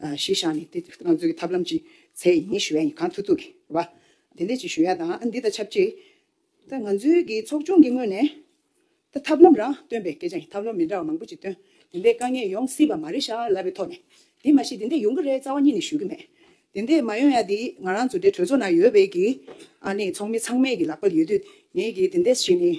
གཞི་བཞག་ནས་དེ་གང་འཛུགས་ཀྱི་ཐབས་ལམ་ཅི་ཚད་ཡིན་ཞུ་ཡ་ཡིན་གང་ཐུབ་ཐུབ་ཀྱི་བ་དེ་འད་ཅིག་ཞུ་ཡ་དང་འདི་དང་ཆབས་ཅིག་ད་ང་ཚོའི་གི་ཚོགས་ཆུང་གི་ངོས་ནས་ད་ཐབས་ལམ་རང་བཏོན་པའི་སྐད་ཆ་ཡིན་ཐབས་ལམ་མི་འདྲ་བ་མང་པོ་ཅིག་བཏོན་དེ་འད་དཀའ་ངལ་ཡོང་སྲིད་པ་མ་རེད་ཤག་ལབ་པའི་ཐོག་ནས་དེ་མ་ཤེས་དེ་འད་ཡོང་གི་རེད་རྩ་བ་གཉིས་ནས་ཞུ་གི་མེད་དེ་འད་མ་ཡོང་ཡ་དེ་ང་རང་ཚོ་འདྲའི་གྲོས་ཚོགས་ནང་ཡོད་པའི་གི་ཨ་ནི་ཚོགས་མི་ཚང་མས་གི་ལག་པ་ལ་ཡོད་དུས་ངས་གི་དེ་འད་བྱས་ནས་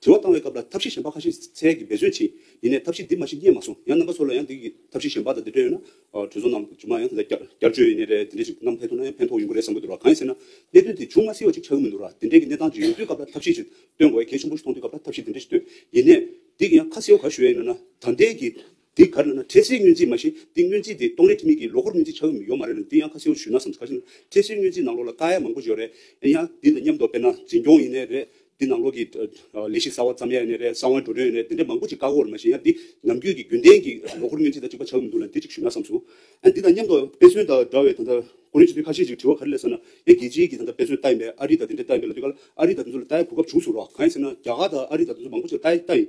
དྲི་བ་བཏང་བའི་སྐབས་ལ་ཐབས་ཤེས་གཞན་པ་ཁ་ཤས་ཚལ་གྱི་འབད་རྩོད་བྱས། ཡིན་ནས་ཐབས་ཤེས་འདི་མ་ཤེས་རྙེད་མ་སོང། ཡང་རྣམ་པ་ཚོ་ལ་ཡང་འདི་གི་ཐབས་ཤེས་གཞན་པ་དང་འདི་འདྲ་ཡོད་ན། གྲོས་ཚོགས་ནང་རྗུ་མ་ཡང་དེ་འདྲ་བསྐྱར་བཅོས་ཡིན་ནའི་རེད་དེ་འདྲ་ཞིག་ནམ་ཕེབས་ཐུབ་ན་ཡང་ཕན་ཐོགས་ཡོང་གི་རེད་བསམ་གྱི་འདུག་ར་གང་ཡིན་ཟེར་ན། གནད་དོན་དེ་བྱུང་མ་ཟེར་བ་ཅིག་ཆགས་ཀྱི་མི་འདུག་ར་དེ་འདྲའི་གི་གནས་སྟངས་ཅིག་ཡོང་དུས་སྐབས་ལ་ཐབས་ཤེས་ཅིག་བཏོན་དགོས་གལ་ཆེན་པོ་ཞིག་མཐོང་དུས་སྐབས་ལ་ཐབས་ཤེས་འདི་འདྲ་ཞིག་བཏོན། ཡིན་ནས། འདི་གི་ཡང་ཁ་གསལ་བོ་ག་ཞུ་ཡས་ཡིན་ན་ད་ལྟའི་གི། དེ་གར་ན་ན་ཁྲེ་སེའི་སྔོན་རྩིས་མ་བཞི་དེ་སྔོན་རྩིས་དེ་སྟོང་ལས་ཁྲི་མིག་གི་ལོ་འཁོར་སྔོན་རྩིས་ཆགས་ཀྱི་ཡོད་མ་རེད་ལ་འདི་ཡང་ཁ་སེའུ་ཞུས་ན་བསམ་དཀའ་ཞིང། ཁྲེ་སེའི་སྔོན་རྩིས་ནང་ལོགས་ལ་དཀའ་ཡག་མང་པོ་ཞིག་ཡོད་རེད། ཡིན་ཡང་དེ་དང་མཉམ་དུ་དཔེར་ན་འཛིན་སྐྱོང་ཡིན་ནི་རེད། དེ་ནང་ལོགས་ཀྱི། ལས་གཞི་གསར་བ་བརྩམ་ཡག་ཡིན་ནི་རེད་གསང་བའི་འགྲོ་གྲོན་ཡིན་ནི་རེད་དེ་འདྲ་མང་པོ་ཅིག་བཀག་འགོག་རེད་མ་གཞི་ཡང་འདི་ནམ་རྒྱུན་གྱི་རྒྱུན་ལྡན་གྱི་ལོ་འཁོར་སྔོན་རྩིས་དང་གཅིག་པ་ཆགས་ཀྱི་མི་འདུག་ལ་འདི་གཅིག་ཞུས་ན་བསམ་སོང། འདི་དང་མཉམ་དུ་དཔེ་མཚོན་དང་འདྲ་བའི་ད་ལྟ་ཀོ་རིན་ཆུ་ཚོད་ཁ་ཤས་ཅིག་བྲི་བ་ག་རེ་ལས་ཟེར་ན། ཡང་རྒྱལ་སྤྱིའི་གྱི་ད་ལྟ་དཔེ་མཚོན་ལྟ་ཡིན་པས་ཨ་རི་དང་དེ་འདྲས་ལྟ་ཡིན་པས་ལ་དུས་ཀ་ལ་ཨ་རི་དང་དེ་ཚོ་ལ་ལྟ་ཡག་གོ་སྐབས་བྱུང་སོང་རོགས་གང་ཡིན་ཟེར་ན་རྒྱ་གར་དང་ཨ་རི་དང་དེ་ཚོ་མང་པོ་ཅིག་ལ་ལྟ་ཡིན།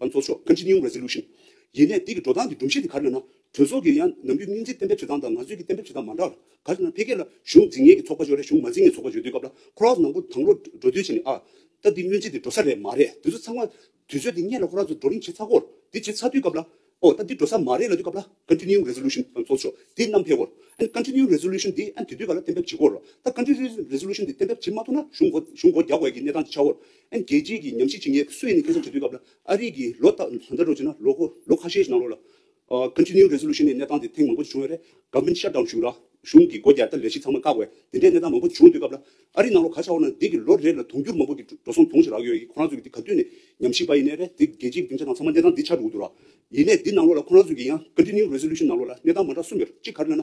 ཨ་ཚོགས་ཤོག Continuing Resolution། ཡིན་ནས་དེ་གི་འགྲོ་སྟངས་ཀྱི་སྒྲོམ་གཞི་དེ་ག་རེ་ཡོད་ན། གྲོས་ཚོགས་ཀྱི་ཡང་ནམ་རྒྱུན་སྙིང་རྗེ་གཏན་འབེབས་བྱེད་སྟངས་དང་ང་ཚོའི་གི་གཏན་འབེབས་བྱེད་སྟངས་མ་འདྲ་ལ། ག་རེ་ན་ཕལ་སྐད་ལ་གཞུང་འཛིན་ངེས་ཀྱི་ཚོགས་པ་བརྗོད་རེ་གཞུང་མ་འཛིན་ངེས་ཚོགས་པ་བརྗོད་དུས་སྐབས་ལ་ཁོ་རང་ཚོ་ནང་པོ་དང་པོ་འགྲོ་དུས་ཆེ་ནས་ཨ། ད་དེ་སྙུན་ཚིག་དེ་འགྲོ་ས་རེད་མ་རེད་དུས་ཚོད་ཚང་མ། དུས་ཚོད་དེ་སྙེད་ལ་ཁོ་རང་ཚོ་འགྲོ་རིན་བྱེད་ཚར་སྐོར་དེ་བྱེད་ཚར་དུས་སྐབས་ལ། ཨོ་ད་དེ་འགྲོ་ས་མ་རེད་ལ་དུས་སྐབས་ལ Continuing Resolution ཨ་ཚོགས་ཤོག་དེ་རྣམ་ཕལ་སྐོར་ཨན Continuing Resolution དེ་ཨན་དུས་དུས་སྐབས་ལ་གཏན་འབེབས་བྱེད་སྐོར་ལ་ད Continuing Resolution དེ་གཏན་འབེབས་བྱེད་མ་ཐུབ་ན་གཞུང་གོ་གཞུང་སྒོ་རྒྱག་དགོས་ཀྱི་གནས་སྟངས་དེ་ཆགས་སྐོར་རྒྱལ་སྤྱིའི་གི་ཉམས་ཞིབ་བྱེད་མཁན་སུ་ཡིན་ནས་ཁེ་བཟང་བྱེད་དུས་སྐབས་ལ་ཨ་རིག་གིས་ལོ་ལྟར་ལོ་ལྟར་རོགས་བྱེད་ན་ལོ་ཁོ་ལོ་ཁ་ཤས་ཤིག་ནང་རོགས་ལ། Continuing Resolution ནི་གནས་སྟངས་དེ་ཐེངས་མང་པོ་ཞིག་བྱུང་ཡོད་རེད Government Shutdown བྱུང་རག་གཞུང་གི་སྒོ་རྒྱ་ལྟར་ལས་གཞི་ཚང་མ་བཀག་བས་དེ་འདྲའི་གནས་སྟངས་མང་པོ་བྱུང་དུས་སྐབས་ལ་ཨ་རིག་ནང་རོགས་ག་ཆག་འོ་ན་འདི་གི་ལོ་རེ་ལ་དུང་འགྱུར་མང་པོ་གི་འགྲོ་སོང་དུང་ཞིག་རག་ཡོད་གི་ཁོ་རང་ཚོས་གི་འདི་ག་དུས་ནས་ཉམས་ཞིབ་པ་ཡིན་ནས་རེད་འདི་རྒྱལ་སྤྱིའི་གི་སྡིངས་ཆ་ནང་ཚང་མ་གནས་སྟངས་འདི་ཆགས་འདུག་འོ་དོ་རག་ཡིན་ནས་འདི་ནང་ལོགས་ལ་ཁོ་རང་ཚོས་གི་ཡང Continuing Resolution ནང་ལོགས་ལ་གནས་སྟངས་མ་འདྲ་གསུམ་ཡོད་རེད་གཅིག་ག་རེ་ན་ན།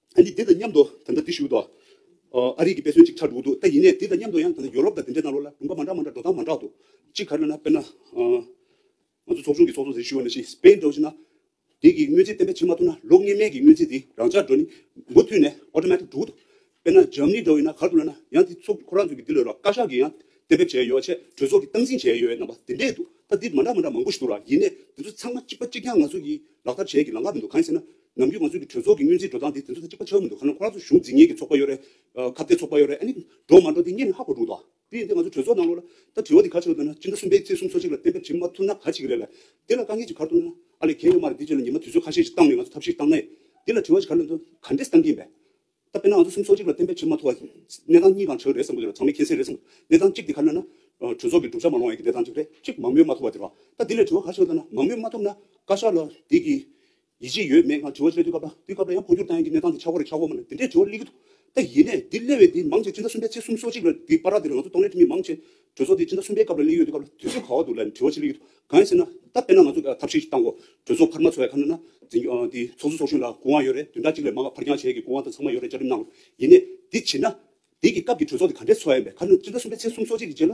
ཨ་ནི་དེ་དང་མཉམ་དུ་ད་ལྟ་འདི་ཞུས་འདུག་ཨ་རིག་གི་དཔེ་མཚོན་ཅིག་ཆགས་འགྲོ་གི་འདུག་ད་ཡིན་ནས་དེ་དང་མཉམ་དུ་ཡང་ད་ལྟ་ཡོ་རོབ་དང་དེ་འདྲའི་ནང་ལོགས་ལ་དགོན་པ་མ་འདྲ་མ་འདྲ་འགྲོ་སྟངས་མ་འདྲ་འདུག་གཅིག་ག་རེ་ན་དཔེར་ན། ང་ཚོ་ཚོགས་ཆུང་གི་ཚོགས་གཙོ་ཟེར་ཞུས་བ་ན་ཤིས་པའི་འགྲོ་གཞི་ན། དེ་གི་དངོས་རྫས་བསྟན་པ་བྱེད་མ་ཐུབ་ན་ལོ་ལྔའི་མན་གི་དངོས་རྫས་དེ་རང་འཇགས་འགྲོ་ནི་མུ་མཐུད་ནས Automatic འགྲོ་གི་འདུག་དཔེར་ན་འཇམ་ནི་འདྲ་བས་ན་གར་དུ་ལོས་ན་ཡང་དེ་ཚོ་ཁོ་རང་ཚོས་ཀྱི་དེ་ལོས་རོགས་བཀའ་ཤག་གི་ཡང་གཏན་འབེབས་བྱས་ཡོད་ཆེད་གྲོས་ཚོགས་ཀྱི་སྟངས་འཛིན་བྱས་ཡོད་རྣམ་པ་དེ་འདྲས་འདུག་ད་དེ་མ་འདྲ་མ་འདྲ་མང་པོ་ཞིག་འདུག་ར་ཡིན་ནས་དེ་ཚོ་ཚང་མ་གཅིག་པ་གཅིག་རྐྱང་ང་ཚོ་གི་ལག་བསྟར་བྱས་ཀྱི་ལང་ཀ་མི་འདུག་གང་ཡིན་ཟེར་ན། ནམ་རྒྱུན་ང་ཚོས་གི་གྲོས་ཚོགས་ཀྱི་སྙུན་གཟིགས་འགྲོ་སྟངས་འདི་དེ་ཚོ་ཚེ་གཅིག་པ་ཆགས་གི་མི་འདུག་ཁ་ནང་ཁོ་རང་ཚོ་གཞུང་འཛིན་ངེས་ཀྱི་ཚོགས་པ་ཡོད་རེད། ཁ་བརྡའི་ཚོགས་པ་ཡོད་རེད་ཨ་ནི། འགྲོ་མ་འགྲོ་དེ་གཉིས་ནི་ཧ་གོ་འདུག་དོ། དེ་ཡིན་ཏེ་ང་ཚོ་གྲོས་ཚོགས་ནང་ལོགས་ལ། ད་དྲི་བ་འདི་ག་ཆེ་རུ་བཏོན་ན་ཅི་འདྲ་སུན་པའི་ཚེ་གསུམ་ཚོ་གཅིག་ལ་གཏན་འབེབས་བྱེད་མ་ཐུབ་ན་ག་བྱེད་ཀྱི་རེད་ལ། དེ་ལ་དཀའ་ངལ་གྱི་གར་བཏོན་ན། ཨ་ལས་གལ་ཡོད་མ་རེད་དེ་བྱས་ན་ཉི་མ་དུས་ཚོད་ཁ་ཤས་ཀྱི་བཏང་ནས་ང་ཚོ་ཐབས་ཤེས་བཏང་ན་ཡིན། དེ་ལ་དྲི་བ་ཞིག་ག་ལ་འདུག་ག་འདྲས་བཏང་གི་ཡིན་པས། ད་དཔེར་ན་ང་ཚོ་གསུམ་ཚོ་གཅིག་ལ་གཏན་འབེབས་བྱེད་མ་ཐུབ་བ། གནས་སྟངས་གཉིས་གང་ཆགས་རེད་བསམ་གི་རེད་ལ་ཚང་མས་མཁྱེན་གསལ་རེད་བསམ། གནས་སྟངས་གཅིག་འདི་ག་ལ་ན། གྲོས་ཚོགས་ཀྱི་གྲུབ་ཆ་མ་ལོངས་ཡས་ཀྱི་གནས་སྟངས་གཅིག་རེད་གཅིག་མང་མོས་མ་ཐུབ་བ་དེ་རེད། ད་དེ་ལས་དྲི་བ་ག་ཆེ་རུ་བཏོན་ན་མང་མོས་མ་ཐུབ་ན་བཀའ་ཤག་ལ་དེ་གི། ཡིད་ཆེས་ཡོད་མེད་སྔར་དྲི་བ་བཤད་དུས་སྐབས་དང་དུས་སྐབས་ལ་ཡང་འཕོ་འགྱུར་བཏང་ཡོད་ཀྱི་གནས་སྟངས་ཀྱི་ཆག་སྒོ་རེ་ཆག་སྒོ་མ་ལ་དེ་འདྲའི་དྲི་བ་གླེང་གི་འདུག་ད་ཡིན་ནས་འདིར་གླེང་བའི་འདི་མང་ཆེ་སྤྱི་ཟླ་གསུམ་པའི་ཚེས་སུམ་སོ་གཅིག་ལོར་འདི་པར་ར་འདིར་ང་ཚོ་གཏོང་ལེན་ཁྲིད་མི་མང་ཆེ་གྲོས་ཚོགས་འདི་སྤྱི་ཟླ་གསུམ་པའི་སྐབས་ལ་གླེང་ཡོད་དུས་སྐབས་ལ་དུས་ཚོད་ག་བ་འདུག་ལ་འདྲི་བ་ཅི་གླེང་གི་འདུག་གང་ཡིན་ཟེར་ན་ད་དཔེར་ན་ང་ཚོ་ཐབས་ཤེས་ཤིག་བཏང་གོ་གྲོས་ཚོགས་འཕར་མ་ཚོ་ཡ་ཁ་ན་ན་འཛིན་འདི་ཚོགས་གཙོ་ཚོགས་གཞོན་ལ་སྐུ་དབང་ཡོད་རེད་དུས་འདྲ་གཅིག་ལས་མང་བ་འཕར་འགྱང་བྱེད་ཀྱི་སྐུ་དབང་དང་ཚང་མ་ཡོད་རེད་བཅའ་ཁྲིམས་གནང་རོགས་ཡིན་ནས་འདི་བྱེད་ན། འདི་གི་སྐབས་ཀྱི་གྲོས་ཚོགས་འདི་ག་འདྲའི་ཚོགས་ཡིན་པས་ཁ་ན་སྤྱི་ཟླ་གསུམ་པའི་ཚེས་སུམ་སོ་གཅིག་གི་རྗེས་ལ།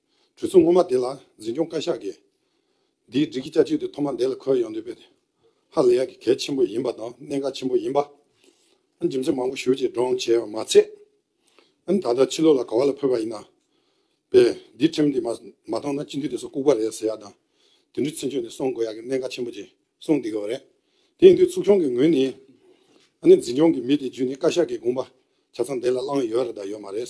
གྲོས་ཚོགས་སྔོན་མ་དེ་ལ་འཛིན་སྐྱོང་བཀའ་ཤག་གིས། འདིའི་སྒྲིག་གཞི་བསྐྱར་བཅོས་དེ་ཐོག་མར་འདས་ལ་འཁོད་ཡོང་འདོད་པས། ཧ་ལས་ཡག་གི་གལ་ཆེན་པོ་ཡིན་པ་དང་གནད་འགག་ཆེན་པོ་ཡིན་པ། འཇིམ་ཚད་མང་པོ་ཞུ་ཅེས་སྒྲོག་བྱས་པ་མ་ཚད། ད་ལྟ་ཕྱི་ལོགས་ལ་ག་བ་ལ་འཕོས་པ་ཡིན། པས་འདིའི་ཁྲིམས་དེ་མ་བཏང་ན་སྤྱི་འཐུས་དེ་ཚོ་ལྐུགས་པ་རེད་ཟེར་ཡག་དང། དེ་འདྲའི་ཚུལ་འཆོས་ནས་སོང་དགོས་ཡག་གི་གནད་འགག་ཆེན་པོ་ཅིག་སོང་བསྡད་གི་བ་རེད། དེ་ཡིན་དུས་ཚོགས་ཆུང་གི་ངོས་ནས། འཛིན་སྐྱོང་གི་མི་དེ་བརྒྱུད་ནས་བཀའ་ཤག་གིས་དགོངས་པ་ཆ་ཚང་འདས་ལ་བླངས་ཡོད་རེད་དང་ཡོད་མ་རེད།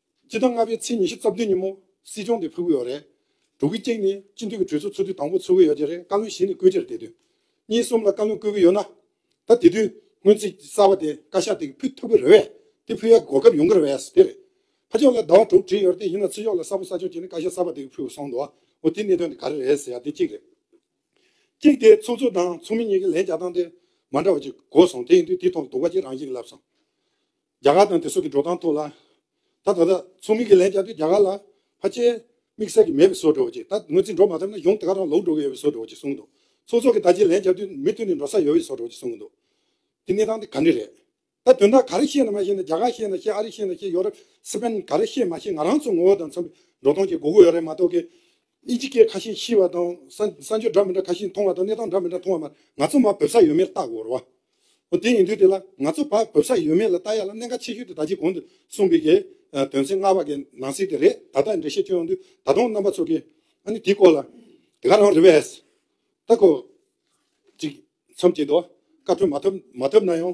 སྤྱི་ཟླ་ལྔ་པའི་ཚེས་ཉི་ཤུ་རྩ་བདུན་ཉིན་མོ་སྲིད་སྐྱོང་དེ་ཕུལ་གི་ཡོད་རེད། དྲུག་གི་སྐྱེས་ནི་སྤྱི་འཐུས་ཀྱི་གྲོས་ཚོགས་ཚོགས་དུས་དང་པོ་ཚུགས་གི་ཡོད་ཀྱི་རེད་བཀའ་བློན་གཞན་ནས་བསྐོས་རྗེས་རེད་དེ་དུས་གཉིས་གསུམ་ལ་བཀའ་བློན་བསྐོས་གི་ཡོད་ན། ད་དེ་དུས་སྔོན་ཚིག་གསར་བ་དེ་བཀའ་ཤག་དེ་གི་ཕུལ་ཐུབ་གི་རེད་བས་དེ་ཕུལ་ཡག་གི་གོ་སྐབས་ཡོང་གི་རེད་བས་སོ་དེ་རེད། ཕ་ཕྱོགས་ལ་ཟླ་བ་དྲུག་བྲིས་ཡོད་རེད་དེ་ཡིན་ན་ཚེས་ཕྱོགས་ལ་གསར་བུ་གསར་ཕྱོགས་ཀྱི་ནི་བཀའ་ཤག་གསར་བ་དེ་གི་ཕུལ་གི་སོང་འདུག་འོ་དེ་གནད་དོན་དེ་ག་རེ་རེད་ཟེར་ཡག་དེ་གཅིག་རེད། གཅིག་དེ་ཚོགས་གཙོ་དང་ཚོགས་མི་གཉིས་ཀྱི་ལན་རྒྱག་སྟངས་དེ་མ་འདྲ་བ་གཅིག་གོ་སོང་དེ་ཡིན་དུས་དེ་ཐོག་ལ་དུག་པ་གཅིག་རང་བཞིན་གྱི་ལབ་སོང། རྒྱ་གར་དང་དེ་སོགས་ཀྱི་འགྲོ་སྟངས་ཐོག་ལ། ད་ད་ལྟ་ཚོགས་མི་གི་ལན་བརྒྱབ་སྟེ་རྒྱ་གར་ལ་ཕ་སྐྱེས། དམིགས་བསལ་གྱི་མེད་པའི་བཟོ་འགྲོ་ཅིག་ད་ངོས་འཛིན་འགྲོ་མ་ཐབས་ན་ཡོང་དེ་ག་རང་ལོག་འགྲོ་གི་ཡོད་པའི་བཟོ་འགྲོ་ཅིག་གསུངས་འདུག་ཚོགས་གཙོ་གི་ད་ཅིག་ལན་བརྒྱབ་དུས་མི་མཐུན་ནས་འགྲོ་ས་ཡོད་པའི་བཟོ་འགྲོ་ཅིག་གསུངས་འདུག་དེ་གནས་སྟངས་དེ་ག་འདྲ་རེད། ད་དོན་དག་ག་རེ་ཤེས་ན་མ་ཤེས་ན་རྒྱ་གར་ཤེས་ན་ཤེས་ཨ་རི་ཤེས་ན་ཤེས་ཡོ་རབ་སི་པན་ག་རེ་ཤེས་མ་ཤེས་ང་རང་ཚོ་ངོ་བོ་དང་མཚོན་པའི་འགྲོ་སྟངས་ཀྱི་སྒུག་དགོས་ཡོད་རེད་མ་གཏོགས་གི། གཉིས་ཀྱི་སྐད་ཁ་ཤས་ཤེས་བ་དང། བསམ་སྦྱོར་འདྲ་མི་འདྲ་ཁ་ཤས་མཐོང་བ་དང་གནས་སྟངས་འདྲ་མི་འདྲ་མཐོང་བ་མར་ང་ཚོ་མ་བོད་ས་ཡོད་མེད་བརྟག་དགོས་རོ། འོ་དེ་ཡིན་དུས་དེ་ལ་ང་ཚོ་བར་བོད་ས་ཡོད་མེད་ལ་བལྟ་ཡ་ལ་གནད་འགག་ཆེ་ཤོས་དེ་ད་ཅིག་གོང་དུ་གསུངས་པའི་གེ། དོན་ཚན་ལྔ་བ་གེ་ནང་གསེས་དེ་རེད་ད་ལྟ་འགྲེལ་བཤད་བསྐྱོན་ཡོང་དུས་ད་དུང་རྣམ་པ་ཚོ་གེ། ཨ་ནི་དེའི་སྐོར་ལ་དེ་ག་རང་རེ་བས་ད་ཁོ། ཅིག་མཚམས་བཅད་དོ། བཀའ་འཁྲོལ་མ་ཐོབ་མ་ཐོབ་ན་ཡང།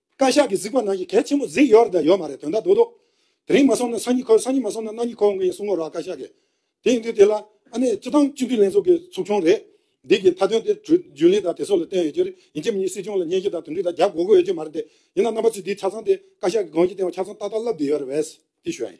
བཀའ་ཤག་གི་གཟིགས་པ་ནང་གི་གལ་ཆེན་པོ་གཟིགས་ཡོད་རེད་དང་ཡོད་མ་རེད་དོན་དག་དོག་དོག། དེ་རིང་མ་སོང་ན་སང་ཉིན་ཁོ་སང་ཉིན་མ་སོང་ན་གནངས་ཉིན་ཁོ་འོང་གི་ཡིན་གསུང་ངོ་རོགས་བཀའ་ཤག་གིས། དེ་ཡིན་དུས་དེ་ལ་ཨ་ནེ་སྤྱི་བཏང་སྤྱི་འཐུས་ལྷན་ཚོགས་ཀྱི་ཚོགས་ཆུང་རེད། འདི་གི་མཐའ་དོན་དེ་གྲོས་རྒྱུན་ལས་དང་དེ་སོགས་ལ་བརྟེན་ཡོད་རྒྱུ་རེད་ཡིན་ཁྱེད་གཉིས་སྲིད་སྐྱོང་ལ་སྙན་ཞུ་དང་དོན་འཁྲི་དང་རྒྱབ་གོ་དགོས་ཡོད་རྒྱུ་མ་རེད་དེ། ཡིན་ན་རྣམ་པ་ཚོས་འདིའི་ཆ་ཚང་དེ་བཀའ་ཤག་གི་དགོངས་ཀྱི་སྟེང་བ་ཆ་ཚང་ཏག་ཏག་ལབ་བསྡད་ཡོད་རེད་བས། དེ་ཞོའི།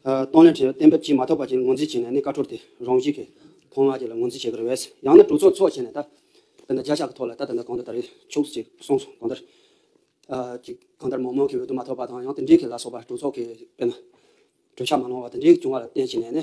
སྟོང་ལས་འཕྲོས་བསྟན་པའི་དཔྱིད་མ་ཐོབ་པ་བཅས་ངོས་འཛིན་བྱས་ནས་ནི་བཀའ་འཁྲོལ་དེ་རང་བཞིན་གྱིས་ཐོག་མར་ཁྱེད་ལ་ངོས་འཛིན་བྱེད་དགོས་རེད་བས་ཡང་ན་གྲོས་ཚོགས་འཚོགས་བྱས་ནས་ད་ལྟ་འདི་བརྒྱ་ཕྱག་གི་ཐོག་ལ་ད་ལྟ་འདི་གང་འདི་ལྟར་རེད་ཆོག་ཅིག་གསུངས་སོང་གང་ལྟར། ཅིག་གང་ལྟར་མང་མང་གི་འོས་བསྡུ་མ་ཐོབ་པ་དང་ཡང་དེ་འབྲེལ་གྱི་ལ་སོགས་པ་གྲོས་ཚོགས་ཀྱི་དཔེར་ན་གྲོས་འཆར་མ་གནང་བ་དེ་འདྲའི་བྱུང་བ་ལ་བརྟེན་བྱས་ནས་ནི།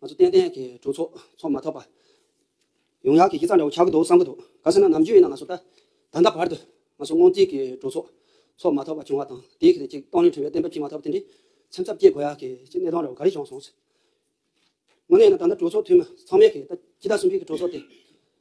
ང་ཚོ་ཏན་ཏན་གྱི་གྲོས་ཚོགས་ཚོགས་མ་ཐག་པ། ཡོང་ཡག་གི་ཁྱི་ཙག་འདྲ་བོ་ཆགས་ཀྱི་འདུག་བསམ་གྱི་འདུག་ག་སྲིད་ན་ནམ་རྒྱུན་ཡིན་ན་ང་ཚོ་ད་ད་ལྟ་བར་དུ་ང་ཚོ་སྔོན་རྩིས་ཀྱི་གྲོས་ཚོགས་ཚོགས་མ་ཐག་པ་བྱུང་བ་དང་དེའི་གལ་ཏེ་ཅིག་གཏོང་རིང་ཁྲི་བའི་གཏན་འབེབས་བྱིན་མ་ཐག་པ་དེ་འདྲའི་ཚེམས་ཚབ་སྐྱེ་དགོས་ཡག་གི་ཅིག་གནས་སྟངས་འདྲ་བོ་ག་རེ་བྱུང་སོང་ཟེར། དངོས་གནས་ཡིན་ན་ད་ལྟ་གྲོས་ཚོགས་འཐུས་མི་ཚང་མས་གིས་ད་ཕྱི་ཟླ་གསུམ་བཅུ་གྱི་གྲོས་ཚོགས་དེ་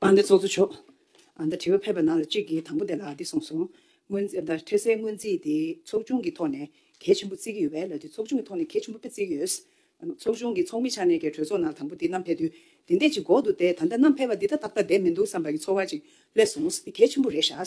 ཨ་མདའི་ཚོགས་གཙོ་མཆོག་ཨ་མདའ་དྲི་བ་ཕེབས་པ་ནང་ལ་གཅིག་གིས་དང་པོ་དེ་ལ་འདི་གསུངས་སོང། འཕྲལ་སེལ་སྔོན་རྩིས་དེ་ཚོགས་ཆུང་གི་ཐོག་ནས་གལ་ཆེན་པོ་བརྩི་གི་ཡོད་པས་ལ་དེ་ཚོགས་ཆུང་གི་ཐོག་ནས་གལ་ཆེན་པོ་དཔེ་བརྩི་གི་ཡོད། ཚོགས་ཆུང་གི་ཚོགས་མི་ཆགས་ནས་ཀྱི་གྲོས་ཚོགས་ནང་ལ་དང་པོ་དེ་གནམ་འཕེལ་དུས་དེ་འདས་ཅིག་འགོག་འདུག་དེ་ད་ལྟ་གནམ་འཕེལ་བ་འདི་ད་ཏག་ཏག་བསྡད་མི་འདུག་བསམ་པ་གི་ཚོར་བ་ཅིག་སླེབས་སོང་འདི་གལ་ཆེན་པོ་རེད་ཤག་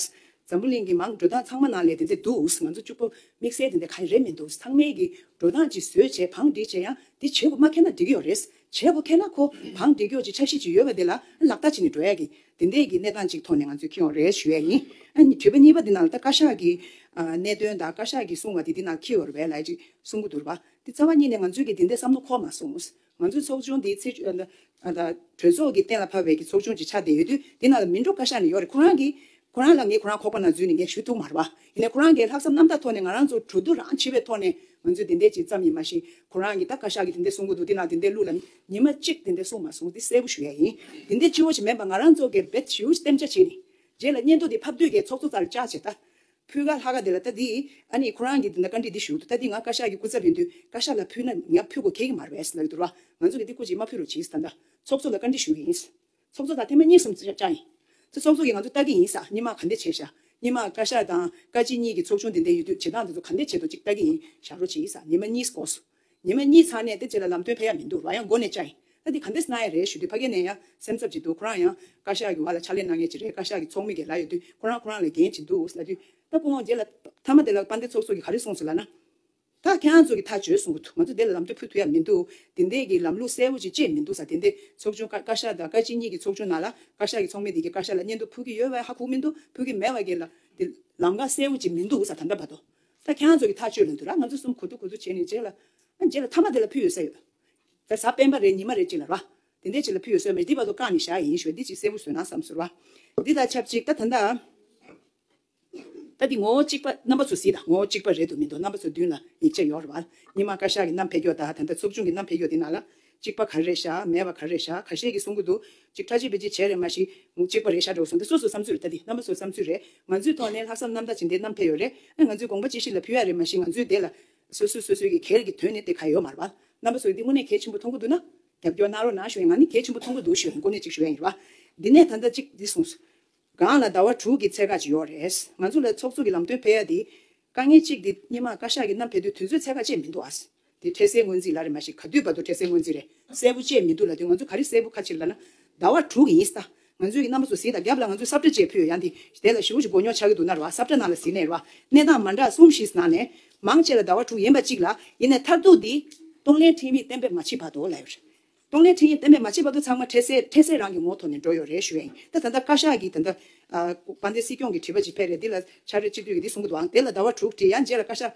འཛམ་བུ་གླིང་གི་མང་གྲོས་དང་ཚང་མ་ནང་ལས་དེ་འདས་འདུག་ང་ཚོ་གཅུག་པོ་དམིགས་བསལ་དེ་འདས་ག་རེ་རེད་མི་འདུག་ཚང་མའི་གི་འགྲོ་སྟངས་ཅིག་བཟོས་བྱས་བང་སྒྲིག་བྱས་ཡང་འདི་བྱེད་དགོས་སྨྲ་མཁན་ན་འགྲིག་གི་ཡོད་རེད་བྱེད་དགོས་ཐལ་ན་ཁོ་གང་འདྲེ་སྐྱོར་གྱི་ཆབ་སྲིད་ཅིག་ཡོད་པ་དེ་ལ་ལག་བསྟར་བྱེད་ནས་འགྲོ་ཡ་གི་དེ་འད་གི་གནས་སྟངས་ཅིག་ཐོག་ནས་ང་ཚོས་ཁེ་འོང་རེད་ཞུ་ཡ་ཡིན། དྲི་བ་གཉིས་པ་འདི་ནང་ལ་ད་བཀའ་ཤག་གི་གནད་དོན་དང་བཀའ་ཤག་གི་གསུང་བ་དེ་འདི་ནང་ཁེ་འོར་བས་ལས་ཅིག་གསུང་གི་འདུར་བ། དེ་རྩ་བ་གཉིས་ནས་ང་ཚོས་གི་དེ་འད་བསམ་བློ་འཁོར་མ་སོང། ང་ཚོས་ཚོགས་ཆུང་འདི་ཚེ་གྲོས་ཚོགས་གི་གཏན་ལ་ཕབ་བས་གི་ཚོགས་ཆུང་གི་ཆ་འད་ཡོད་དུས་འདི་ནང་ལ་མི་འགྲོ་བཀའ་ཤག་ནས་ཡོག་རེད་ཁོ་རང་གི་ཁོ་རང་ལ་ངས་ཁོ་རང་ཁོག་པ་ན་འཛུལ་ནས་ངས་ཞུ་ཐུག་མ་རེད་པ། ཡིན་ནའི་ཁོ་རང་གི་ལྷག་བསམ་རྣམ་དག་ཐོག་ནས་ང་རང་ཚོར་གྲོས་བསྡུར་རང་བྱེད་པའི་ཐོག་ནས་ང་ཚོས་དེ་འད་ཅིག་ཙམ་ཡིན་མ་ཤེས། ཁོ་རང་གིས་ད་བཀའ་ཤག་གིས་དེ་འད་གསུང་གི་འདུག་དེ་ན་དེ་འད་ལུགས་ལ་ཉིན་མ་གཅིག་དེ་འད་གསུང་མ་སོང་འདི་གསལ་པོ་ཞུ་ཡ་ཡིན། དེ་འད་སྤྱི་བོ་ཆེ་མེད་པ་ང་རང་ཚོ་གེར་བད་ཞུ་གཏན་འཇགས་བྱས་ནས། རྗེས་ལ་སྙན་ཐོ་འདི་ཕབ་དུས་གས་ཚོགས་གཙོ་ཙར་ལྕག་བྱས་ད། ཕུལ་ག་ལྷ་ག་དེ་ལ་ད་འདིས་ཨ་ནི་ཁོ་རང་གིས་དེ་འད་བཀའ་འདྲི་འདི་ཞུ་འདུག་ད་འདི་ང་བཀའ་ཤག་གི་སྐུ་ཚབ་ཡིན་དུས་བཀའ་ཤག་ལ་ཕུལ་ན་ང་ཕུལ་གོ་གེ་གི་མ་རེད་ལ་ལས་དུ་ར་ང་ཚོ་གི་འདི་སྐུ་ཅིག་མ་ཕུལ་རོགས་གྱིས་ད་འད་ཚོགས་གཙོ་ལ་བཀའ་འདྲི་ཞུ་གི་ཡིན། ཚོགས་གཙོ་དང་ཐེངས་མ་གཉིས་གསུམ་བཅར་ཡིན། ཚེ་ཚོགས་གཙོ་གིས་ང་ཚོ་ལྟ་གི་ཡིན་ས་གཉིས་མ་ག་འདེད་བྱས་ཞག་གཉིས་མ་བཀའ་ཤག་དང་བཀའ་སྤྱི་གཉིས་ཀྱི་ཚོགས་ཆུང་དེ་འདས་ཡོད་དུས་བྱེད་སྟངས་དེ་ཚོ་ག་འདེད་བྱེད་དོ་ཅིག་ལྟ་གི་ཡིན་ཞག་རོ་བྱས་ས་གཉིས་མ་གཉིས་གོ་སོ། གཉིས་མ་གཉིས་ཚང་ནས་དེ་རྗེས་ལ་ལམ་སྟོན་ཕེབས་ཡ་མི་འདུག་ར་ཡང་མགོ་ནས་བཅར་ཡིན་ལྟ་དེ་ག་འདེད་ས་ན་ཡ་རེད་ཞུ་དུས་ཕ་གས་ནས་ཡང་སེམས་འཚབ་ཅིག་འདུག་ཁོ་རང་ཡང་བཀའ་ཤག་གི་བ་ལ་ཕྱག་ལས་གནང་མཁན་ཅིག་རེད་བཀའ་ཤག་གི་ཚོགས་མི་གས་ལ་ཡོད་དུས་ཁོ་རང་ཁོ་རང་ལ་འགན་ཅིག་འདུག་ལྟ་དུས་ལྟ་སྤོ་འོང་རྗེས་ལ་མཐའ་མ་དེ་ལ་བཀའ་འདེད་ཚོགས་གཙོ་གིས་ག་རེ་གསུངས་སོ་ལ་ན། ད་ཁྱེད་རང་ཚོ་གི་ཐག་གཅོད་གསུང་གི་འདུག་ང་ཚོ་དེ་ལ་ལམ་སྟོན་ཕུལ་ཐུབ་ཡ་མི་འདུག་དེ་འད་ཀྱི་ལམ་ལུགས་གསལ་བོ་ཅིག་བཅས་མི་འདུག་ས་དེ་འད་ཚོགས་ཆུང་བཀའ་ཤག་དང་བཀའ་སྤྱི་གཉིས་ཀྱི་ཚོགས་ཆུང་ནང་ལ་བཀའ་ཤག་གི་ཚོགས་མི་དེ་ཀྱི་བཀའ་ཤག་ལ་སྙན་ཐོ་ཕུལ་གི་ཡོད་བས་ཧ་ཁུག་མི་འདུག་ཕུལ་གི་མེད་བ་ཀྱི་ལ་དེ་ལམ་ཀ་གསལ་བོ་ཅིག་མི་འདུག་ས་ད་འདྲ་བ་འདུག་ད་ཁྱེད་རང་ཚོ་གི་ཐག་གཅོད་ལ་འདུག་ལ་ང་ཚོ་གསུམ་གོ་ཐུག་གོ་ཐུག་བྱས་ནས་རྗེས་ལ་རྗེས་ལ་ཐ་མ་དེ་ལ་ཕུལ་ཡོད་ས་ཡོད་ད་གཟའ་སྤེན་པ་རེད་ཉི་མ་རེད་ཅིག་ལ་ར་དེ་འད་ཅིག་ལ་ཕུལ་ཡོད་ས་ཡོད་མེད་འདི་བ་ཚོ་བཀག་ནས་བཞག་ཡིན་ཞུ་བ་འདི་ཅིག་གསལ་བོ་བཟོས་ན་བསམ་ཟོར་བ་འདི་དང་ཆབས་ཅིག་ད་ད་འདའ། ད་དེ་ངོ་བོ་གཅིག་པ་རྣམ་པ་ཚོ་སྲིད་དང་ངོ་བོ་གཅིག་པ་རེད་དུ་མི་འདུག་རྣམ་པ་ཚོ་བདུན་ལ་ཡིག་ཆ་ཡོར་བར་ཉི་མ་བཀའ་ཤག་གི་རྣམ་ཕེ་གྱོ་དང་ད་ལྟ་ཚོགས་ཆུང་གི་རྣམ་ཕེ་གྱོ་དེ་ནང་ལ་གཅིག་པ་གར་རེད་ཤ་མེད་པ་གར་རེད་ཤ་ཁ་ཤས་ཀྱི་གསུང་གི་འདུག་གཅིག་ཁྲ་ཆེ་བེ་ཆེ་བྱས་རེད་མ་གཞི་གཅིག་པ་རེད་ཤ་འགྲོ་གི་སོང་ད་སོ་སོ་བསམ་ཚུལ་རེད་ད་དེ་རྣམ་པ་ཚོ་བསམ་ཚུལ་རེད་ང་ཚོའི་ཐོག་ནས་ལྷག་བསམ་རྣམ་དག་བྱེད་འདི་རྣམ་ཕེ་ཡོ་རེད་ང་ཚོའི་དགོངས་པ་ཅི་ཞིག་ལ་ཕུལ་ཡ་རེད་མ་གཞི་ང་ཚོའི་འདི་ལ་སོ་སོ་སོ་སོའི་གི་གེར་གི་དོན་ནི་དེ་ག་ཡོ་མར་བར་རྣམ་པ་ཚོ་འདི་དངོས་གནས་གལ་ཆེན་པོ་མཐོང་གི་འདུག་ན་རྒྱབ་སྐྱོར་གནང་རོགས་གནང་ཞུ་ཡ་ང་ནི་གལ་ཆེན་པོ་མཐོང་གི་འདུག་ཞུ་ཡ་ཡིན་དགོངས་གནས་གཅིག་ཞུ་ཡ་ཡིན་ར་བ་འདི་ནས་ད་ད་གཅིག་འདི་གསུངས། སྒང་ལ་ཟླ་བ་དྲུག་གི་ཚད་བཀག་ཅིག་ཡོད་རེད། ང་ཚོ་ལ་ཚོགས་གཙོ་གི་ལམ་སྟོན་ཕལ་ཡ་དེ། དཀའ་ངལ་གཅིག་དེ་སྙེ་མ་བཀའ་ཤག་གི་གནམ་ཕལ་དུས་དུས་ཚོད་ཚད་བཀག་བཅས་མི་འདུག་ཨ། དེ་འཕྲལ་སའི་སྔོན་རྩིས་ལ་རེད་མ་ཞེས་ག་དུས་བར་དུ་འཕྲལ་སའི་སྔོན་རྩིས་རེད་གསལ་པོ་བཅས་མི་འདུག་ལ་དུས་ང་ཚོ་ག་རེ་གསལ་པོ་ཁ་ཕྱིར་ལ་ན། ཟླ་བ་དྲུག་གི་ཡིན་སྟ། ང་ཚོའི་གི་རྣམ་པ་ཚོ་ཟིན་ད་རྒྱབ་ལ་ང་ཚོས་སབ་ཁྲ་བཅས་ཕུལ་ཡོད་ཡང་དེ། དེ་ལ་ཞི་བོ་ཞིག་མགོ་རྙོག་ཆགས་ཀྱི་འདུག་ན་རེ་བ་སབ་ཁྲ་ནང་ལ་ཟིན་ནས་རེ་བ་གནས་སྟངས་མ་འདྲ་གསུམ་བཞིས་ནང་ནས། མང་ཆེ་ལ་ཟླ་བ་དྲུག་ཡིན་པ་གཅིག་ལ། ཡིན་ནས་མཐར་ཐུག་དེ། གཏོང་ལེན་ཁྲིམས་ཡིག་གཏན་འབེབས་མ་བྱེད་བར་དུ་ལ་ཡོད་རེད། གཏོང་ལེན་འཕྲིན་ཡིག་གཏན་འབེབས་མ་བྱས་པ་དུ་ཚང་མ་འཕྲལ་སེལ་འཕྲལ་སེལ་རང་གི་ངོ་ཐོག་ནས་འགྲོ་ཡོད་རེད་ཞུ་ཨེ་ད་ད་ད་བཀའ་ཤག་གིས་ད་ད་བཀའ་འདི་སྲིད་སྐྱོང་གི་དྲི་བ་ཇི་ཕེར་རེད་འདི་ལ་ཕྱག་རེ་སྤྱི་འཐུས་ཀྱི་འདི་གསུང་གི་འདུག་ཨང་དེ་ལ་ཟླ་བ་དྲུག་ཁྲི་ཡང་རྗེས་ལ་བཀའ་ཤག་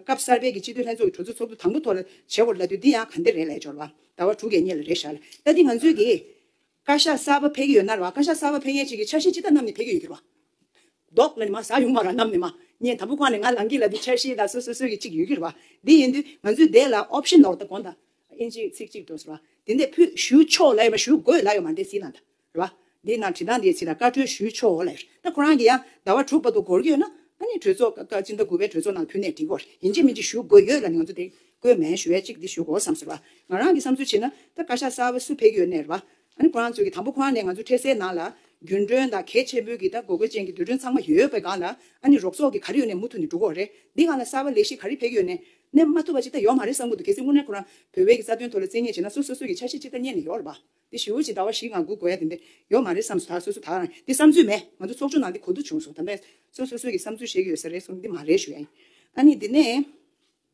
སྐབས་གསར་པའི་གི་སྤྱི་འཐུས་ལྷན་ཚོགས་ཀྱི་གྲོས་ཚོགས་ཚོགས་འདུ་དང་པོ་ཐོག་ལ་བྱེད་བོར་ལ་དུས་འདི་ཡང་ག་འདི་རེད་ལས་སྦྱོར་བ་ཟླ་བ་དྲུག་གེ་གཉིས་ལ་རེད་ཤག་ལ་ད་འདི་ང་ཚོས་གི། བཀའ་ཤག་གསར་པ་ཕེབས་ཀྱི་ཡོད་ན་ར་བཀའ་ཤག་གསར་པ་ཕེབས་མཁན་ཅིག་གིས་འཆར་གཞི་ཅི་ལྟར་གནང་ནས་ཕེབས་ཀྱི་ཡོད་གི་ར། མདོག་ལ་ནི་མ་བཟའ་ཡོང་བ་ར་གནམ་ནས་མ་ཉན་དམ་པོ་ཁང་ནས་ང་ལངས་གི་ལ་འདི་འཆར་གཞི་ལ་སོ་སོ་སོའི་གི་ཅིག་ཡོད་གི་ར། འདི་ཡིན་དུས་ང་ཚོའི་སྡེ་ལ optional ད་གོ་ད་ཨིན་ཇིའི་ཚིག་ཅིག་འགྲོ་སོ་ར། འདི་འདས་ཕུད་ཞུ་ཆོག་ལ་ཡོད་མ་ཞུ་དགོས་ལ་ཡོད་མ་འདས་སི་ལ་ད་ར། འདི་ན་བྲིས་ཐང་འདིའི་ཚིག་ལ་བཀའ་འཁྲོལ་ཞུ་ཆོག་ལ་ཡོད་ད་ཁོ་རང་གི་ཡང་ཟླ་བ་དྲུག་པ་དུ་འགོར་གྱི་ཡོད་ན་ཨ་ནི་གྲོས་ཚོགས་སྐབས་སྐབས་སྤྱི་ཟླ་དགུ་པའི་གྲོས་ཚོགས་ནང་ཕུད་ནས་འགྲིག་གོ་ར་ཡིན་ཅི་མིན་ཅི་ཞུ་དགོས་ཡོད་ལ་ནི་ང་ཚོ་དེ་བཀོད་མེད་ཞུ་བས་གཅིག་འདི་ཞུ་གོ་བསམ་ཟེར་བ། ང་རང་གི་བསམ་ཚུལ་བྱེད་ན། ད་བཀའ་ཤག་གསར་བ་སུ་ཕེགས་ཡོད་གནས་རེད་བ། ཨ་ནི་ཁོ་རང་ཚོས་ཀྱི་དང་པོ་ཁོ་རང་ནས་ང་ཚོའི་འཕྲལ་སེལ་ནང་ལ། རྒྱུན་གྲོན་དང་གལ་ཆེན་པོའི་གྱི་ད་གོ་དགོས་ཅན་གྱི་འདོད་གྲོན་ཚང་མ་ཡོད་པའི་སྒང་ལ། ཨ་ནི་རོགས་ཚོགས་གྱི་ག་རེ་ཡོད་ནས་མུ་མཐུད་ནས་འགྲོ་གོ་རེད། འདི་སྒང་ལ་གསར་བ་ལས་གཞི་ག་རེ་ཕེགས་ཡོད་ནས། གནས་མ་ཐུབ་པ་ཅིག་ད་ཡོག་མ་རེད་བསམ་གོ་འདུག་གལ་སྲིད་དངོས་གནས་ཁོ་རང། བོད་བས་གྱི་རྩ་དོན་ཐོག་ལ་རྩིས་ངེས་བྱེད་ན་སུ་སོ་སོ་གྱི་ཆ་ཤས་ཅིག་ད་རྙེད་ནས་ཡོག་རེད་བ། འདི་ཞུ་བ་ཅིག་ད་བ་བཞི་ང་དགུ་གོ་ཡ་དེ་འདྲས་ཡོག་མ་རེད་བསམ་སོ་ད་སོ་སོ་ད་རང་འདི་བསམ་ཚུལ་མེད་ང་ཚོ་ཚོགས་ཆུང་ནང་འདི་གོ་བསྡུར་བྱུང་སོ་ད་འདས་སོ་སོ་སོའི་གྱི་བསམ་ཚུལ་བཤད་གྱི་ཡོད་ས་རེད་སོ་འདི་མ་རེད་ཞུ་ཡ་ཡིན། ཨ་ནི་འདི་ནས།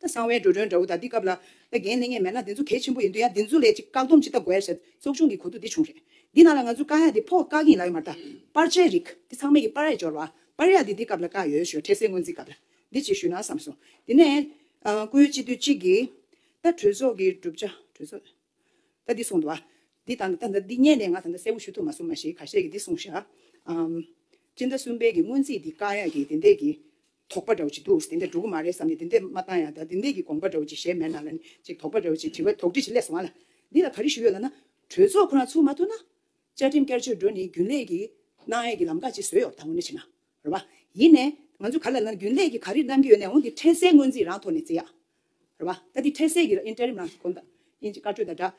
ད་གསང་བའི་འགྲོ་གྲོན་འདྲ་བོ་དག་འདི་སྐབས་ལ། ད་རྒན་གནས་ངེས་མེད་ན་འདི་ཚོ་གལ་ཆེན་པོ་ཡིན་དུས་ཡང་འདི་ཚོ་ལས་ཅིག་བཀག་སྡོམ་ཅི་ལྟ་དགོས་ཟེར། ཚོགས་ཆུང་གི་གོ་ཐུག་འདི་བྱུང་རེད། འདི་ནང་ལ་ང་ཚོ་བཀག་ཡ་འདི་ཕོག་བཀག་གིན་ལ་ཡོད་མ་རྟ། པར་ཆའི་རིགས། འདི་ཚང་མའི་གི་པར་ཡ་འབྱོར་བ། པར་ཡ་འདི་འདི་སྐབས་ལ་བཀག་ཡོད་ཞོ་འཕྲལ་སེ་སྔོན་རྩིས་སྐབས་ལ། འདི་ཅིག་ཞུས་ན་བསམ་སོང། དེ་ནས། སྐུའི་སྤྱི་འཐུས་གཅིག་གིས། ད་གྲོས་ཚོགས་ཀྱི་གྲུབ་ཆ། གྲོས་ཚོགས། ད་འདི་གསུངས་དུ། འདི་ད་ད་འདི་རྙེད་ནས་ང་ད་ད་གསལ་བོ་ཞུ་ཐུབ་མ་སོང་མ་གཞི་ག་ཤེད་ཀྱི་འདི་གསུངས་ཤག། སྤྱི་ཟླ་གསུམ་པའི་གི་སྔོན་རྩིས་འདི་བཀག་ཡ་གི་དེ་འདས་གི། དོགས་པ་འདྲ་བོ་ཅིག་འདུག་དེ་འདྲ་འགྲོ་གི་མ་རེད་བསམ་ནས་དེ་འདྲས་མ་བཏང་ཡང་དེ་འདྲས་ཀྱི་དགོངས་པ་འདྲ་བོ་ཅིག་གཞན་མེད་ན་ལ་ནི་ཅིག་དོགས་པ་འདྲ་བོ་ཅིག་དྲི་བ་དོགས་འདྲི་ཞིག་སླེབས་སོང་ང་ལ། འདི་ལ་ག་རེ་ཞུ་ཡོད་ལབ་ན། གྲོས་ཚོགས་ཁོ་རང་ཚུགས་མ་ཐུབ་ན། བཅའ་ཁྲིམས་བསྐྱར་བཅོས་འགྲོ་ནི་རྒྱུན་ལས་ཀྱི། གནང་ཡས་ཀྱི་ལམ་ཁ་ཅིག་བཟོས་ཡོད་ད་ངོ་ནས་བྱས་ན། རེད་བ། ཡིན་ནས། ང་ཚོས་ག་ལ་ལབ་ན་རྒྱུན་ལས་ཀྱི་ག་རེ་གནང་གི་ཡོད་ནའང་དེ་འཕྲལ་སེལ་སྔོན་རྩིས་རང་ཐོག་ནས་བརྩི་ཡག། རེད་བ། ད་དེ་འཕྲལ་སེལ་གྱི་ཨིན་ཏེ་རིམ་ནང་གི་བསྐོ་བསྐྱར་བཅོས་དང་སྦྲགས།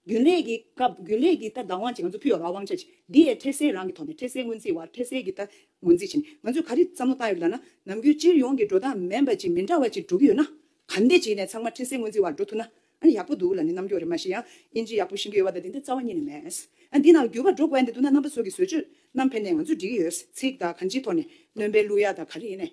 རྒྱུན་ལས་ཀྱི་སྐབས་རྒྱུན་ལས་ཀྱི་རྟགས་བདག་དབང་བྱེད་ང་ཚོ་ཕུལ་བ་རང་དབང་ཆ་བྱེད་འདི་ཡའི་འཕྲལ་སེལ་རང་གི་ཐོག་ནས་འཕྲལ་སེལ་སྔོན་རྩིས་བར་འཕྲལ་སེལ་གྱི་རྟགས་ངོས་འཛིན་བྱེད་ནས་ང་ཚོས་ག་རེ་བསམ་བློ་བཏང་ཡོད་མེད་ལ་ན་ནམ་རྒྱུན་སྤྱིར་ཡོངས་ཀྱི་འགྲོ་སྟངས་མན་པ་ཅིག་མི་འདྲ་བ་ཅིག་འགྲོ་གི་ཡོད་ན་ག་འདི་བྱེད་ནས་ཚང་མ་འཕྲལ་སེལ་སྔོན་རྩིས་བར་འགྲོ་ཐུབ་ན་ཨ་ཡག་པོ་འདུག་ལ་ནི་རྣམ་འགྱོག་རེ་མ་ཤེས་ཡང་དབྱིན་ཇི་ཡག་པོ་ཤེས་ཀྱི་ཡོད་པ་དང་དེ་འདྲ་རྩ་བ་ཉིད་ནས་མེད་ཨ་འདི་ནང་འགྱུར་བ་འགྲོ་དགོས་ཨ་འདི་འདུག་ན་རྣམ་པ་ཚོ་གི་བཟོས་བཅོས་རྣམ་ཕན་ནས་ང་ཚོས་འགྲིག་གི་ཡོད་ཚིག་དང་གང་ཅིའི་ཐོག་ནས་གནོན་པའི་གླུ་ཡག་དང་ག་རེ་ཡིན་ནས་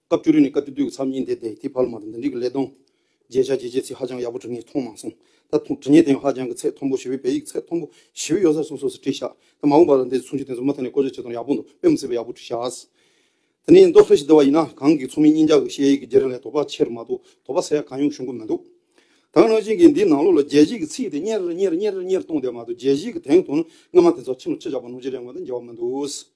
བཀའ་བཅུ་རེ་ནས་བཀའ་བཅུ་བསྡུས་ཀྱི་ཚབ་གཉིས་འདས་ཏེ་དེའི་ཕར་ལ་མ་དང་འདི་འདྲིས་ཀྱི་ཀླད་སྟོང། རྗེས་ཆ་བྱེད་བྱེད་ཚིག་ཧ་ཅང་ཡག་པོ་བྲིས་ངས་མཐོང་མ་སོང། ད་ཐུང་བྲིས་ངས་དེ་ཡང་ཧ་ཅང་གི་ཚད་མཐོན་པོ་ཞེ་བོའི་བེ་ཡིག་གི་ཚད་མཐོན་པོ་ཞེ་བོའི་གཡོ་ཟར་སོགས་སོགས་སུ་བྲིས་ཤག་ད་མ་འོངས་པར་འདི་ཚུན་ཆུད་དེ་ཚོ་མུ་མཐའ་ནས་བཀོལ་སྤྱོད་བྱེད་སྟངས་ཡག་པོ་འདུག་དཔེ་མི་སྲིད་པ་ཡག་པོ་བྲིས་ཤག། དེ་ནས་མདོ་ཁ་ཞིག་བསྡུ་བ་ཡིན་ན་གང་གི་ཚོགས་མི་གཉིས་ཀྱག་གི་བཤད་ཡིག་གི་རྗེས་རིང་ལས་དོགས་པ་ཆེར་མ་གཏོགས་དོགས་པ་ཟད་ཡག་གང་ཡོང་ཞུ་འགོ་མི་འདུག་དྭངས་གནང་བྱིན་གྱིས་འདིའི་ནང་ལོགས་ལ་རྒྱལ་གཞིས་ཀྱི་ཚིག་དེ་གཉེར་གཉེར་གཉེར་གཉེར་གཏོང་བསྡད་མ་གཏོགས་རྒྱལ་གཞིས་ཀྱི་དེང་དུང་ནི་སྔ་མ་དེ་ཚོ་ཕྱི་མ་ཁྲི་ཆགས་པ་ནོར་གྱི་རེད་ངོ་ད་འགྱེལ་བ་མི་འདུག།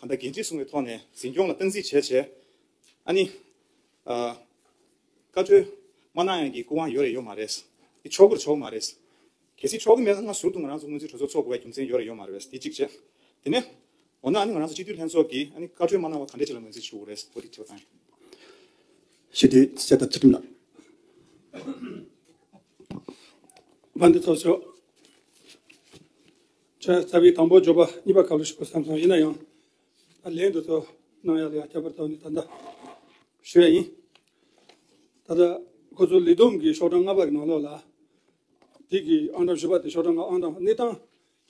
གང་འདྲ་འགན་འཁྲི་སྲུང་བའི་ཐོག་ནས་འཛིན་སྐྱོང་ལ་སྟངས་འཛིན་བྱས་བྱས། ཨ་ནི། བཀའ་ཁྲོལ། མ་གནང་ཡང་གི་སྐུ་དབང་ཡོད་རེད་ཡོད་མ་རེད། འདི་ཆོག་གི་རེད་ཆོག་གི་མ་རེད། གལ་སྲིད་ཆོག་གི་མེད་ན་སྔ་ཟུར་དུ་ང་རང་ཚོ་སྔོན་རྩིས་གྲོས་ཚོགས་འཚོགས་དགོས་པའི་རྒྱུ་མཚན་ཡོད་རེད་ཡོད་མ་རེད། དེ་གཅིག་བྱས། དེ་ནས། འོ་ན་ཨ་ནི་ང་རང་ཚོ་སྤྱི་འཐུས་ལྷན་ཚོགས་ཀྱིས་ཨ་ནི་བཀའ་ཁྲོལ་མ་གནང་བ་ག་འདྲས་ཅིག་ལ་ངོས་འཛིན་ཞུ་དགོས་རེད་འོ་དེ་དྲི་བ་དང། ཞེས་དེ་བཤད་ཐབས་བྱེད་ཐུབ་ན། དཔའ་འདི་ཚོ་ཤོག། ཆ་ཚ་བའི་དང་པོ་སྦྱོར་བ་གཉིས་པ་ག་ལ་ཞིག་གོ་བསམ་སོང་ཡིན་ན་ཡང་ད་ལན་དུ་ཚོགས་གནང་ཡག་ལ་ཡག་ཁྱད་པར་དག་ནས་ད་ལྟ་ཞུ་ཡ་ཡིན། ད་ལྟ་ཁོ་ཚོ་ལི་སྡོམ་གྱི་ཤོག་གྲངས་ལྔ་པ་གི་ནང་ལོགས་ལ་དེ་གི་ཨང་གྲངས་བཞི་པ་དེ་ཤོག་གྲངས་ལྔ་ཨང་གྲངས་གནས་སྟངས་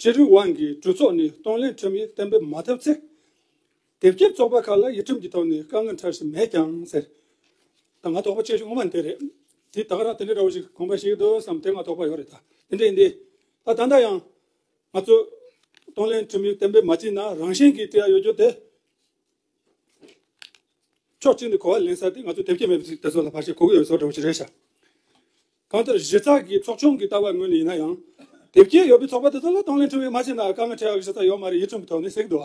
ཅི་རིགས་དབང་གིས་གྲོས་ཚོགས་ནས་གཏོང་ལེན་ཁྲིམས་ཡིག་གཏན་འབེབས་མ་ཐུབ་ཚེ། དེབ་སྐྱེལ་ཚོགས་པ་ཁག་ལ་ཡིག་ཁྲིམས་ཀྱི་ཐོག་ནས་དཀའ་ངལ་འཕྲད་བཞིན་མེད་ཀྱང་ཟེར། ད་ང་དོགས་པ་ཆེ་ཤོས་ངོ་མ་དེ་རེད། དེ་ད་ག་རང་དེ་འདྲ་འདྲ་བོ་ཞིག་དགོངས་པ་ཞིག་འདུག་བསམ་དེ་ང་དོགས་པ་ཡོད་རེད་ད། དེ་འདྲ་ཡིན་དུས། ད་ད་ལྟ་ཡང། ང་ཚོས། གཏོང་ལེན་ཁྲིམས་ཡིག་གཏན་འབེབས་མ་བྱས་ན་རང་བཞིན་གྱིས་བཀྲི་ཡ་ཡོད་རྒྱུ་དེ། ཕྱོགས་གཅིག་ནས་གོ་བ་ལེན་ས་དེ་ང་ཚོས་དེབ་སྐྱེལ་མེད་པ་ཞིག་དེ་ཚོ་ལ་བར་ཆད་གོ་གི་ཡོད་བཟོ་འདྲ་བོ་ཞིག་རེད་ཤག། གང་ལྟར་གཞི་རྩ་གི་ཚོགས་ཆུང་གི་ལྟ་བ་ངོས་ནས་ཡིན་ན་ཡང། དེབ་སྐྱེལ་ཡོད་པའི་ཚོགས་པ་དེ་ཚོ་ལ་གཏོང་ལེན་ཁྲིམས་ཡིག་མ་བྱས་ན་དཀའ་ངལ་འཕྲད་ཡ་གི་གཞི་རྩ་ཡོད་མ་རེད་ཡིག་ཁྲིམས་ཀྱི་ཐོག་ནས་གཟིགས་འདུག་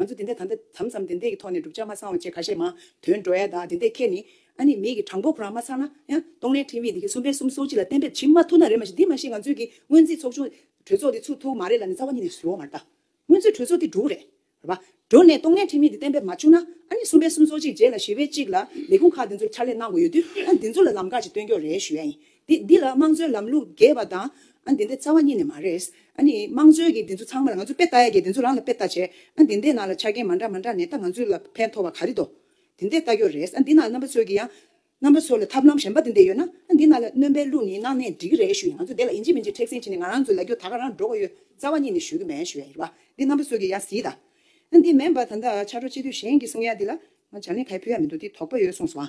ང་ཚོ་དེ་འད་ད་འད་དམ་བསམ་དེ་འད་ཀྱི་ཐོག་ནས་བསྒྲུབ་བྱ་མ་ཚང་བ་བཅས་ཁ་ཤས་མང། དོན་འགྲོ་ཡ་དང་དེ་འད་ཁྱེད་ནི། ཨ་ནི་མིག་གི་དྲང་པོ་ཁོ་རང་མ་ཚང་ན། ཡང། སྟོང་ལས་འཕྲིན་དབྱིངས་དེ་ཁྱེད་གསུམ་པའི་གསུམ་སོགས་སྤྱི་ལ་གཏན་འབེབས་བྱེད་མ་ཐུབ་ན་རེད་མ་གཞི་འདི་མ་གཞི་ང་ཚོའི་གི་སྔོན་རྩིས་ཚོགས་ཆུང། གྲོས་ཚོགས་དེ་ཚུགས་ཐུབ་མ་རེད་ལ་ནི་རྩ་བ་ཉིད་ནས་བཟོས་འོང་མ་རེད་ད། སྔོན་ཚུད་གྲོས་ཚོགས་དེ་འགྲུག་རེད། རེད་པ། འགྲོ་ནས་སྟོང་ལས་འཕྲིན་དབྱིངས་དེ་གཏན་འབེབས་མ་བྱུང་ན། ཨ་ནི་གསུམ་པའི་གསུམ་སོགས་གཅིག་རྗེས་ལ་ཞི་བའི་གཅིག་ལ། ལས་ཁུངས་ཁག་དེ་ཚོར་ཕྱག་ལས་གནང་དགོས་ཡོད་དུས། ཨ་འདི་ཚོ་ལ་ལམ་ཁ་ཞིག་སྟོན་སྐྱོ་རེ་ཞུ་ཡ་ཡིན། དེ་འདི་ལ་དམངས་གཙོའི་ལམ་ལུགས་རྒྱས་པ་དང། ཨ་འདི་འདའི་རྩ་བ་གཉིས་ནས་མ་རེད། ཨ་ནི་དམངས་གཙོའི་གི་འདི་ཚོ་ཚང་མ་ལ་ང་ཚོ་དཔེ་ལྟ་ཡ་གི་འདི་ཚོ་རང་ལ་དཔེ་ལྟ་བྱས། ཨ་འདི་འདའི་ནང་ལ་ཆ་རྐྱེན་མ་འདྲ་མ་འདྲ་ནས་ད་ང་ཚོའི་ལ་ཕན་ཐོགས་པ་ག་རེ་འདོ། འདི་འདའི་ལྟ་སྐྱོ་རེད། ཨ་འདི་ནང་རྣམ་པ་ཚོའི་གི་ཡང། རྣམ་པ་ཚོ་ལ་ཐབས་ལམ་གཞན་པ་འདི་འདའི་ཡོད་ན། ཨ་འདི་ནང་ལ་གནོན་པའི་ལུགས་ནི་གནང་ནས་འགྲིག་གི་རེད་ཞུ་ཡ་ང་ཚོ་འདའི་ལ་ཨིན་ཇི་མིན་ཇི་མཁྲེགས་སེང་བྱེད་ནས་ང་རང་ཚོའི་ལ་རྒྱུ་ད་ག་རང་འགྲོ་ག་ཡོད་རྩ་བ་གཉིས་ནས་ཞུ་གི་མེད་ཞུ་ཡ་ཡིར་བ་འདི་རྣམ་པ་ཚོའི་གི་ཡང་ཟིས་ད། ཨ་འདི་མེན་པ་ད་འདའ་ཆ་འགྲོ་ཅི་དུས་གཞན་གི་གསུང་ཡ་འདི་ལ་ང་བྱ་ལིང་ག་ཡ་ཕུལ་ཡ་མི་འདུག་འདི་དོགས་པ་ཡོད་གསུངས་སོང་ཨ་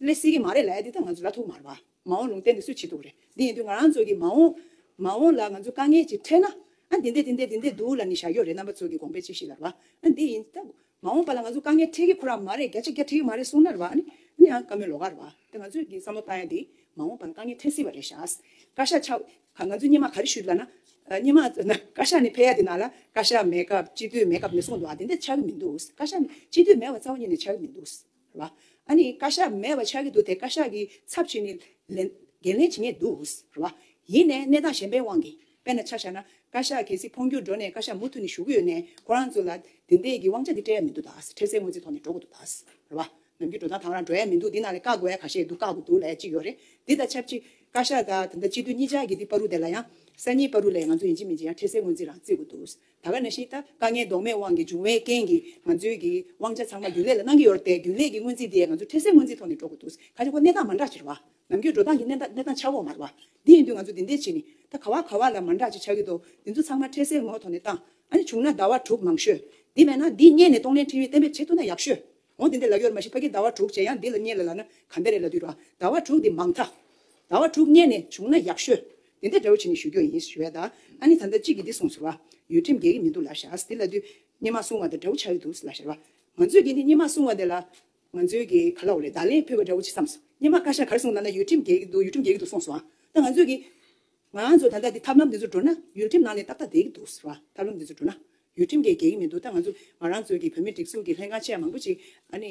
ལས་སྲིད་ཀྱི་མ་རེད་ལ་འདི་ལྟར་ང་ཚོ་ལ་ཐུག་མར་བ་མ་འོང་ལུང་བསྟན་དེ་སུས་བྱེད་ཐུབ་རེད་འདི་ཡིན་དུས་ང་རང་ཚོ་གི་མ་འོང། མ་འོང་ལ་ང་ཚོ་དཀའ་ངལ་གྱིས་འཕྲད་ན་ཨ་འདི་འདས་འདི་འདས་འདི་འདས་འདུག་ལ་ནི་བཞག་ཡོད་རེད་རྣམ་པ་ཚོ་གི་དགོངས་པའི་ཅིག་ཤིག་ལར་བ་ཨ་འདི་ཡིན་ད་མ་འོང་པ་ལ་ང་ཚོ་དཀའ་ངལ་འཕྲད་ཀྱི་ཁོ་རང་མ་རེད་བརྒྱ་ཆ་བརྒྱ་འཕྲད་ཀྱི་མ་རེད་གསུང་ནར་བ་ཨ་ནི་ཨ་ནི་ཨ་བཀའ་མོལ་ལོ་གར་བ་ད་ང་ཚོས་ཀྱི་བསམ་བློ་བཏང་ཡ་འདི་མ་འོང་པ་ལ་དཀའ་ངལ་འཕྲད་སྲིད་བ་རེད་བཞག་བཀའ་ཤག་ཆག་ག་ང་ཚོས་སྙེ་མ་ག་རེ་བཤུས་ལ་ན་སྙེ་མ་ན་བཀའ་ཤག་ནི་ཕེ་ཡ་འདི་ན་ལ་བཀའ་ཤག་མེད་སྐབས་སྤྱི་འཐུས་མེད་སྐབས་ནས་གསུང་འདུག་ཨ་འདི་འདས་ཆག་གི་མི་འདུག་བཀའ་ཤག་ནི་སྤྱི་འཐུས་མེད་བ་རྩ་བ་ཉིད་ནས་ཆག་གི་མི་འདུག། ལ། ཨ་ནི་བཀའ་ཤག་མེད་པ་ཆགས་ཀྱི་འདུག་དེ་བཀའ་ཤག་གི་ཚབ་བྱས་ནས། འགན་ལེན་བྱེད་ངེས་འདུག་ལ། ཡིན་ནའི་གནས་སྟངས་གཞན་པའི་དབང་གིས་དཔེར་ན་ཆ་བཞག་ན། བཀའ་ཤག་གལ་སྲིད་འཕོ་འགྱུར་འགྲོ་ནས་བཀའ་ཤག་མུ་མཐུད་ནས་བཞུགས་ཀྱི་ཡོད་ནའི་ཁོ་རང་ཚོ་ལ་དེ་འད་ཀྱི་དབང་ཆ་དེ་སྤྲད་ཡ་མི་འདུག་ད་ཨ་འཕྲལ་སའི་དངོས་རྫས་ཐོག་ནས་འགྲོ་དགོས་འདུག་ད་ལ། ནམ་རྒྱུན་འགྲོ་སྟངས་དང་རང་འགྲོ་ཡ་མི་འདུག་འདི་ནང་ལས་བཀག་དགོས་ཡ་ག་ཤེད་འདུག་བཀག་དགོས་འདུག་ལས་ཅི་ཡོད་རེད། འདི་དང་ཆབས་ཅིག་བཀའ་ཤག་དང་དེ་འད་སྤྱི་འཐུས་གཉིས་ཅག་གི་འདི་པ་རུ་དེ་ལ་ཡང། གསར་རྙིང་པ་རུ་ལས་ང་ཚོ་ཡིན་གཅིག་མིན་གཅིག་ཡང་འཕྲལ་སའི་དངོས་རྫས་རང་རྩིས་དགོས་འདུག་ད་ག་ནས་ཤེས་ད་དཀའ་ངལ་ལྡོག་མེད་དབང་གིས་བྱུང་བའི་རྐྱེན་གྱིས་ང་ཚོའི་གི་དབང་ཆ་ཚང་མ་རྒྱུན་ལས་ལ་གནང་གི་ཡོད་རེད་དེ་རྒྱུན་ལས་ཀྱི་སྔོན་རྩིས་དེ་ང་ཚོ་འཕྲལ་སེལ་སྔོན་རྩིས་ཐོག་ནས་འགྲོ་དགོས་འདུག་ཁ་ཆེ་ཁོ་གནས་སྟངས་མ་འདྲ་ཆེ་རེད་བ། ནམ་རྒྱུན་འགྲོ་སྟངས་ཀྱི་གནས་སྟངས་ཆག་འོག་མ་རེད་བ། དེ་ཡིན་དུས་ང་ཚོ་འདི་འདྲའི་བྱས་ནི་ད་ག་བ་ག་བ་ལ་མ་འདྲ་ཅིག་ཆག་གི་འདུག་འདི་ཚོ་ཚང་མ་འཕྲལ་སེལ་ངོགས་ཐོག་ནས་བཏང། ཨ་ནི་བྱུང་ན་ཟླ་བ་དྲུག་མང་ཤོས། དེ་མེད་ན་འདི་སྙད་ནས་གཏོང་ལེན་འཕྲིན་ཡིག་གཏན་འབེབས་བྱེད་ཐུབ་ན་ཡག་ཤོས། འོང་དེ་འདི་ལ་གཡོར་མ་ཞིག་ཕ་གི་ཟླ་བ་དྲུག་བྱས་ཡང་འདི་ལ་བསྙེལ་ལ་ལ་ན་གམ་པའི་རེ་ལ་དུས་ར་ཟླ་བ་དྲུག་འདི་མང་ཐ། ཟླ་བ་དྲུག་བསྙེལ་ནས་བྱུང་ན་ཡག་ཤོས། དེ་འདྲ་འདྲ་བོ་བྱས་ནས་ཞུ་རྒྱུ་ཡིན་ཞུ་བས་ད་ཨ་ནི་ད་ལྟ་གཅིག་གིས་འདི་གསུངས་ཟེར་བ། ཡུལ་ཁྲིམས་འགལ་གི་མི་འདུག་ལ་ཞག་འདི་ལ་དུས་སྙེ་མ་བསྲུང་བ་དང་འདྲ་བོ་ཆགས་ཀྱི་འདུག་ལ་ཞར་བ། ང་ཚོས་ཀྱིས་འདི་སྙེ་མ་བསྲུང་བ་དེ་ལ་ང་ཚོའི་གི་ག་ལ་འོ་རེད་ད་ལན་ཕུད་པ་འདྲ་བོ་བྱེད་བསམས་སོ་སྙེ་མ་བཀའ་ཤག་གར་སོང་ད་ན་ཡུལ་ཁྲིམས་འགལ་གྱི་འདུག་ཡུལ་ཁྲིམས་འགལ་གྱི་འདུག་གསུངས་སོང་ད་ང་ཚོས་ཀྱིས། ང་ཚོ་ད་ལྟ་འདི་ཐབས་ལམ་འདི་ཚོར་འགྲོ་ན་ཡུལ་ཁྲིམས་ནང་ནས་ཏག་ཏག་བསྡད་ཀྱི་འདུག་ཟེར་བ་ཐབས་ལམ་འདི་ཚོར་འགྲོ་ན་ཡུལ་ཁྲིམས་འགལ་འགལ་གྱི་མི་འདུག་ད་ང་ཚོ་ང་རང་ཚོའི་གི་བོད་མིའི་སྒྲིག་འཛུགས་ཀྱི་ལྷན་ཁང་ཆེ་མང་པོ་ཅིག་ཨ་ནི།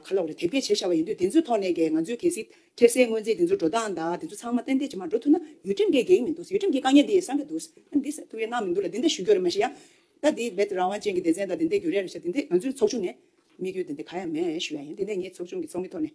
ག་ལོག་རེད་དེབ་སྐྱེལ་བྱས་ཤར་བ་ཡིན་དུས་དེ་ཚོའི་ཐོག་ནས་གི་ང་ཚོའི་གལ་སྲིད་ཁྲེལ་སའི་དངོས་རྫས་དེ་ཚོ་འགྲོ་སྟངས་དང་དེ་ཚོ་ཚང་མ་ཏན་ཏན་ཇི་མ་འགྲོ་ཐུབ་ན་ཡུལ་ཁྲིམས་འགལ་འགལ་གྱི་མི་འདུག་ཡུལ་ཁྲིམས་ཀྱི་དཀའ་ངལ་འདི་ཡི་སངས་རྒྱ་འདུག་ཨ་ནི་འདི་ཐུབ་ཡས་གནང་མི་འདུག་ལ་དེ་འདྲ་ཞུ་རྒྱུ་རེད་མ་ཤེས་ཡ། ད་འདི་བོད་རང་དབང་ཅན་གྱི་སྡེ་ཚན་དང་དེ་འདྲས་རྒྱུ་རེ་རེ་བྱས་དེ་འདྲས་ང་ཚོའི་ཚོགས་ཆུང་ནས་དམིགས་ཡུལ་དེ་འདྲས་ག་ཡང་མེད་ཞུ་ཡ་ཡིན་དེ་འདྲས་ངས་ཚོགས་ཆུང་གི་ཚོགས་མི་ཐོག་ནས།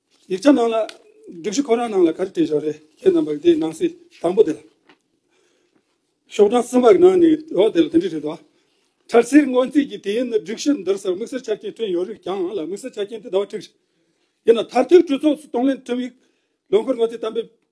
ཡིག་ཆ་ནང་ལ་སྒྲིག་གཞི་ཁོ་རང་ནང་ལ་ག་རེ་བྲིས་བཞག་རེད་ཁྱེད་རྣམས་པར་དེའི་ནང་གསེས་དང་པོ་དེ་ལ། ཤོག་གྲངས་གསུམ་པ་གི་ནང་ནས་འོག་དེ་ལ་དེ་འདྲས་བྲིས་འདུག་ཨ། འཁྲར་སེར་སྔོན་རྩིས་ཀྱི་དེའི་ནི་སྒྲིག་གཞི་འདིར་སར་དམིགས་བསལ་ཆ་རྐྱེན་བསྐྲུན་ཡོད་རིགས་ཀྱང་ལ་དམིགས་བསལ་ཆ་རྐྱེན་དེ་ཟླ་བ་ཁྲིག་རེད། ཡིན་ནའང་མཐར་ཐུག་གྲོས་ཚོགས་སུ་གཏོང་ལེན་ཁྲིམས་ཡིག་ལོ་འཁོར་སྔོན་རྩིས་གཏམ་དཔེ་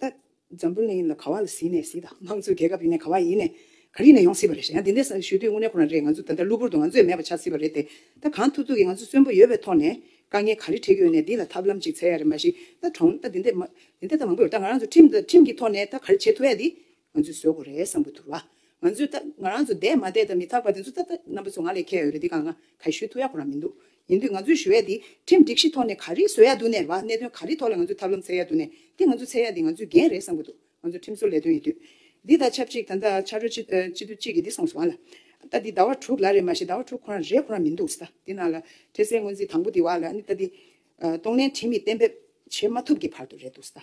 ད་འཛམ་བུ་གླིང་ལ་ག་བ་ལ་ཟིན་ནས་ཟིན་དང་དམངས་གཙོའི་རྒྱལ་ཁབ་ཡིན་ནས་ག་བ་ཡིན་ནས་ག་རིག་ནས་ཡོང་སྲིད་པ་རེད་ཡང་དེ་འདྲས་ཞུས་དུས་དངོས་གནས་ཁོ་རང་རེད་ང་ཚོ་ད་ལྟ་གློ་བུར་དུ་ང་ཚོས་མེད་པ་ཆགས་སྲིད་པ་རེད་དེ་ད་གང་ཐུག་ཐུག་གིས་ང་ཚོ་གསོན་པོ་ཡོད་པའི་ཐོག་ནས་དཀའ་ངལ་ག་རེ་འཕྲད་ཀྱི་ཡོད་ནས་འདི་ལ་ཐབས་ལམ་ཅིག་འཚལ་ཡ་རེད་མ་གཞི་ད་གྲོངས་ད་འདི་འདྲས་མང་པོ་ཡོད་ད་ང་རང་ཚོ་ཁྲིམས་ཁྲིམས་ཀྱི་ཐོག་ནས་ད་ག་རེ་བྱེད་ཐུབ་ཡ་འདི་ང་ཚོས་བཟོད་དགོས་རེད་བསམ་དགོས་ཐུག་ར། ང་ཚོས་ད་ང་རང་ཚོ་འདས་མ་འདས་ད་མི་ཐག་པ་དེ་ཚོ་ད་ད་རྣམ་པ་ཚོ་ང་ལས་མཁས་ཡོད་རེད་དེ་གང་ང་ག་ཞུས་ཐུག་ཡག་པོ་རང་མི་འདུག་ཡིན་དུས་ང་ཚོས་ཞུ་ཡས་དེ་ཁྲིམས་སྒྲིག་གཞི་ཐོག་ནས་ག་རེ་བཟོས་ཡག་འདུག་ནས་ར་གནད་དོན་ག་རེ་ཐོག་ལ་ང་ཚོས་ཐབས་ལམ་འཚལ་ཡག་འདུག་ནས་དེ་ང་ཚོ་འཚལ་ཡག་འདི་ང་ཚོས་འགན་རེད་བསམ་དགོས་འདུག་ང་ཚོ་ཁྲིམས་བཟོ་ལས་དོན་ཡིན་དུས། འདི་ད་ཆབས་ཅིག་ད་ད་ཆ་རོ་སྤྱི་སྤྱི་འཐུས་གཅིག་གིས་འདི་སོངས་སོང་ལ། ད་འདི་ཟླ་བ་དྲུག་ལ་རེད་མ་ཤེས་ཟླ་བ་དྲུག་ཁོ་རང་རེད་ཁོ་རང་མི་འདུག་ཟ་དེ་ན་ལ་འཕྲལ་སེལ་སྔོན་རྩིས་དང་པོ་དེ་བ་ལ་ནི་ད་འདི། གཏོང་ལེན་ཁྲིམས་ཡིག་གཏན་འབེབས་བྱེད་མ་ཐུབ་ཀྱི་བར་དུ་རེད་འདུག་ཟ།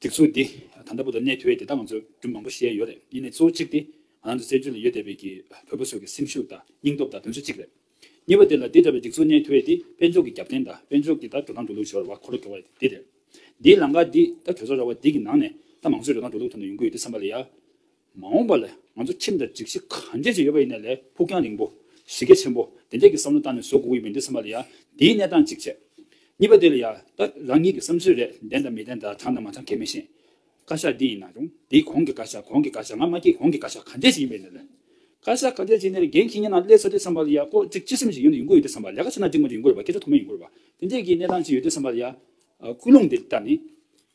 སྒྲིག་འཛུགས་འདི་ད་ལྟ་བོད་དུ་གནས་ཐུལ་བས་དེ་དག་ང་ཚོས་རྒྱུ་མང་པོ་ཤེས་ཡ་ཡོད་རེད་གཉིས་ནས་གཙོ་བོ་གཅིག་དེ་ང་རང་ཚོ་བཙན་བྱོལ་ནས་ཡོད་བསྡད་པའི་གི་བོད་པ་ཚོའི་གི་སེམས་ཤུགས་དང་སྙིང་སྟོབས་དང་དོན་ཚོད་གཅིག་རེད། གཉིས་པ་དེ་ལ་འདི་འདྲ་བའི་སྒྲིག་འཛུགས་གནས་ཐུལ་བས་དེ་དཔལ་འབྱོར་གི་རྒྱབ་རྟེན་དང་དཔལ་འབྱོར་གི་ད་འགྲོ་སྟངས་འགྲོ་ལུགས་ཞོར་བ་འཁོར་ལོ་འགྲོ་བ་རེད་དེ་རེད། འདིའི་ལང་ཀ་འདི་ད་གྲོས་ཚོགས་ར་བ་འདི་གི་ནང་ནས་ད་མང་གཙོའི་འགྲོ་སྟངས་འགྲོ་ལུགས་ཐོག་ནས་ཡོང་གི་ཡོད་དེ་བསམ་པ་ལ་ཡ། མ་འོངས་པ་ལ་ང་ཚོ་ཁྲིམས་དང་སྒྲིག་གཞི་གང་འཇལ་བྱེད་ཡོད་པ་ཡིན་ན་ལས་ཕུགས་རྒྱང་རིང་པོ། གཞི་རྒྱ་ཆེན་པོ་དེ་འདྲས་ཀྱི་བསམ་བློ་བཏང་ནས་བཟོ་དགོས་ཀྱི་མིན་འདི་ཚང་མ་ལ་ཡང་དེའི་གནས་སྟངས་གཅིག་བྱས། གཉིས་པ་དེ་ལ་ཡང་ད་རང་ཉིད་ཀྱི་བསམ་ཚུལ་རེད་བདེན་དང་མི་བདེན་དང་དྲང་དང་མ་དྲང་ཁས་མི་ཤེས། བཀའ་ཤག་འདི་ཡིན་ན་རུང་དེའི་གོང་གི་བཀའ་ཤག་གོང་གི་བཀའ་ཤག་ང་མ་སྐྱེས་གོང་གི་བཀའ་ཤག་གང་འཇལ་བྱེད་ཡིན་པ་ཡིན་ན་ལས། བཀའ་ཤག་གང་འཇལ་བྱེད་ནས་ལས་འགན་ཁྱེད་ཉིད་ནང་སླེབས་ཚར་དུས་ཚང་མ་ལ་ཡང་ལྐོག་ཁྲིགས་ཅི་སེམས་ཞིག་ཡོད་ན་ཡོང་གི་ཡོད་དུས་ཚང་མ་ལས་ཀ་བྱེད་ན་འགྲིག་མ་འགྲིག་ཡིན་དགོས་པ་ཁྱེད་ཚོ་ཐུགས་མ་ཡིན་དགོས་པ་དེ་འདྲས་ཀྱི་གནས་སྟངས་ཅིག་ཡོད་དུས་ཚང་མ་ལ་ཡང་ཀུན་སློང་དེ་ལྟར་ནི།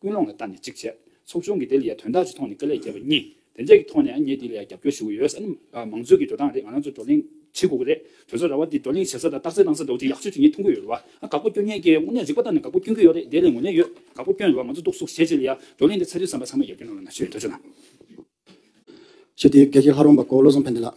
ཀུན་སློང་ལ་ལྟ་ནས་གཅིག་བྱས། ཚོགས་ཆུང་གིས་དེ་ལིའི་དོན་དག་ཅིག་ཐོག་ནས་ཀི་ལས་རྒྱལ་བ་གཉིས། དེ་འདྲས་ཀྱི་ཐོག་ནས་ངས་དེ་ལིའི་རྒྱབ་སྐྱོར་ཞུ་གི་ཡོད་ཟེར་ན། མང་གཙོའི་གི་འགྲོ་སྟངས་རེད་ང་རང་ཚོ་བགྲོ་གླེང་བྱེད་དགོས་ཀི་རེད། དོལ་ཚོགས་ར་བ་འདི་བགྲོ་གླེང་བྱེད་ས་དང་རྟགས་གསལ་གནང་ས་འདོག་ཅིག་ཡག་ཤོས་དེ་ངས་མཐོང་གི་ཡོད་རེད་བ། ཨ་དགག་པོ་སྐྱོན་ངན་ཀི། དངོས་གནས་རིག་པ་ལྟར་ན་དགག་པོ་སྐྱོན་གི་ཡོད་རེད་དེ་ལས་ངོས་ལེན་ཡོད། དགག་པོ་སྐྱོན་རེད་བ་ང་ཚོ་རྟོག་བཟོ་བྱེད་བྱེད་ལ་ཡ། བགྲོ་གླེང་འདི་ཚ་རྒྱུད་ཟམ་པ་ཚང་མ་རྒྱབ་སྐྱོར་གནང་བ་ན་ཆོས་དོལ་ཚོགས་ནང། ཞེས་དེའི་སྒེར་གྱི་ལྷ་རོང་པ་གོ་བློ་བཟང་ཕན་བདེ་ལགས།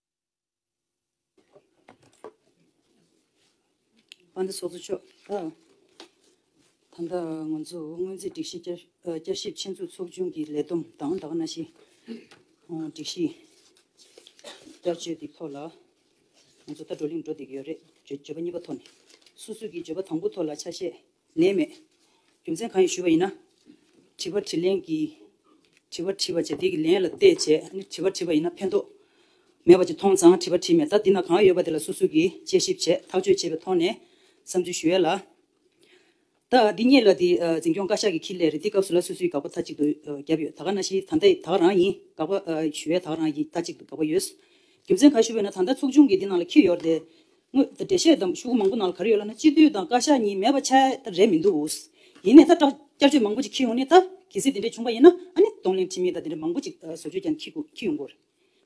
དཔའ་མཐའ་ཚོགས་གཙོ་མཆོག་ད་ལྟ་ང་ཚོ་སྔོན་རྩིས་སྒྲིག་གཞི་བསྐྱར་ཞིབ་ཆེད་འཛུགས་ཚོགས་ཆུང་གི་ལས་བསྡོམས་དང་ཟླ་བ་ན་ཞིག་སྒྲིག་གཞི་བསྐྱར་བཅོས་ཀྱི་ཐོག་ལ་ང་ཚོ་ད་བགྲོ་གླེང་བགྲོ་འདེགས་ཡོད་རེད་བརྗོད་པ་གཉིས་པ་ཐོག་ནས་སོ་སོས་ཀྱི་བརྗོད་པ་དང་པོ་ཐོག་ལ་ཆ་ཤས་ནད་མེད། རྒྱུ་མཚན་གང་ཡིན་ཞུས་པ་ཡིན་ན། དྲི་བ་དྲིས་ལན་གྱིས། དྲི་བ་དྲིས་པ་བྱས་དེ་གི་ལན་ལ་བལྟས་བྱས་ནི་དྲི་བ་དྲིས་པ་ཡིན་ན་ཕན་ཐོགས་མེད་པ་ཅིག་མཐོང་ཙང་དྲི་བ་དྲིས་མེད་ད་འདི་ན་གང་ཡོད་པ་དེ་ལ་སོ་སོ་གིས་དཔྱད་ཞིབ་བྱས་ཐག་གཅོད་བྱས་པའི་ཐོག་ནས་བསམ་ཚུལ་ཞུ་ཡས་ལ། ད་འདི་གཉིས་ལ་དེ་འཛིན་སྐྱོང་བཀའ་ཤག་གི་ཁི་ལས་རེ་འདི་སྐབས་སུ་ལ་སོ་སོའི་དགག་པ་ཐ་གཅིག་ཏུ་བརྒྱབ་ཡོད་ད་ག་ན་ཤི་ད་འདི་དག་རང་ཡིན་དགག་པ་ཞུ་ཡས་དག་རང་ཡིན་ཐ་གཅིག་ཏུ་དགག་པ་ཡོད་རྒྱུ་མཚན་ག་ཞུས་པ་ཡིན་ན་ད་ད་ཚོགས་ཆུང་གི་འདི་ནང་ལ་ཁི་ཡོར་དེ། དངོས་འབྲེལ་བཤད་དམ་ཤུགས་མང་པོ་གནང་ལ་ག་རེ་ཡོད་ལབ་ན་སྤྱི་འཐུས་དང་བཀའ་ཤག་གཉིས་མེད་པ་ཆད་ད་རེད་མི་འདུག་ཡིན་ནས་ད་སྐྲག་བསྐྱར་བཅོས་མང་པོ་ཅིག་ཁྱི་ཡོང་ནི་ད་གལ་སྲིད་དེ་འདྲས་བྱུང་པ་ཡིན་ན་ཨ་ནི་གདོང་ལེན་ཁྲིམས་མི་ད་དེ་འདྲས་མང་པོ་ཅིག་བཟོ་བཅོས་ཀྱང་ཁྱི་ཁྱི་ཡོང་དགོས་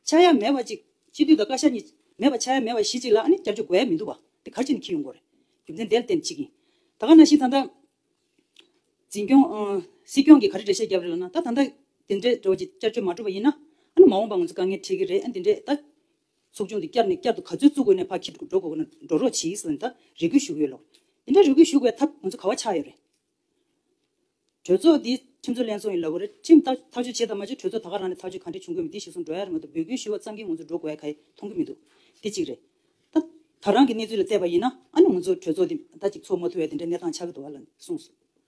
ཆད་ཡ་མེད་པ་ཅིག་སྤྱི་འཐུས་དང་བཀའ་ཤག་གཉིས་མེད་པ་ཆད་མེད་པ་གཞི་ཅིག་ལ་ཨ་ནི་བསྐྱར་བཅོས་དགོས་ཡ་མི་འདུག་བ་དེ་གར་ཅིག་ནི་ཁྱི་ཡོང་དགོས་རྒྱུ་མཚན་དེ་ལ་བརྟེན་ཅིག་ཡིན་ད་ག་ན་ཞིག་ད་ད། འཛིན་སྐྱོང། སྲིད་སྐྱོང་གིས་ག་རེ་འབྲེལ་བཤད་བརྒྱབ་རེད་ལབ་ན་ད་ད་ད་དེ་འདྲས་འགྲོ་བ་ཅིག་བསྐྱར་བཅོས་མ་གྲུབ་པ་ཡིན་ན་ཨ་ནི་མ་འོངས་པ་ང་ཚོ་དཀའ་ངལ་འཕྲད་ཀྱི་རེད་ཨ་ནི་དེ་འདྲས་ད་ཚོགས་ཆུང་འདི་བསྐྱར་ནས་བསྐྱར་དུ་ག་ཚོད་བཙུགས་དགོས་ནས་ཕ་ཁྱི་འགྲོ་དགོས་ན་འགྲོ་རོགས་བྱིས་སུ་འདི་ལྟ་རེ་སྐུལ་ཞུ་གི་ཡོད་ལོ། འདི་འདྲ་རེ་སྐུལ་ཞུ་དགོས་ཐབས་ང་ཚོ་ག་བ་ཆགས་ཡོད་རེད། གྲོས་ཚོགས་འདི་ཁྲིམས་རྩོད་ལན་ཚོགས་ཡིན་ལབ་གོ་རེད་ཁྲིམས་ཐག་ཐག་གཅོད་བྱེད་དང་མ་བྱེད་གྲོས་ཚོགས་ད་ག་རང་ནས་ཐག་གཅོད་ག་འདྲས་བྱུང་དགོས་མི་འདི་ཞིག་གསུང་འགྲོ་ཡ་རེད་མ་འདུག་འབོད་སྐུལ་ཞུ་བ་ཙམ་གྱིས་ང་ཚོ་འགྲོ་དགོས་ཡ་ག་ཡི་མཐོང་གི་མི་འདུག་འདི་གཅིག་རེད། ད་ད་རང་གི་གནས་ཚུལ་ལ་བལྟས་པ་ཡིན་ན་ཨ་ནུ་ང་ཚོ་གྲོས་ཚོགས་འདི་ད་ཅིག་ཚོགས་མ་ཐུབ་བས་འདི་འདྲའི་གནས་སྟངས་ཆགས་ཀྱི་འདུག་ལ་གསུངས་སོང།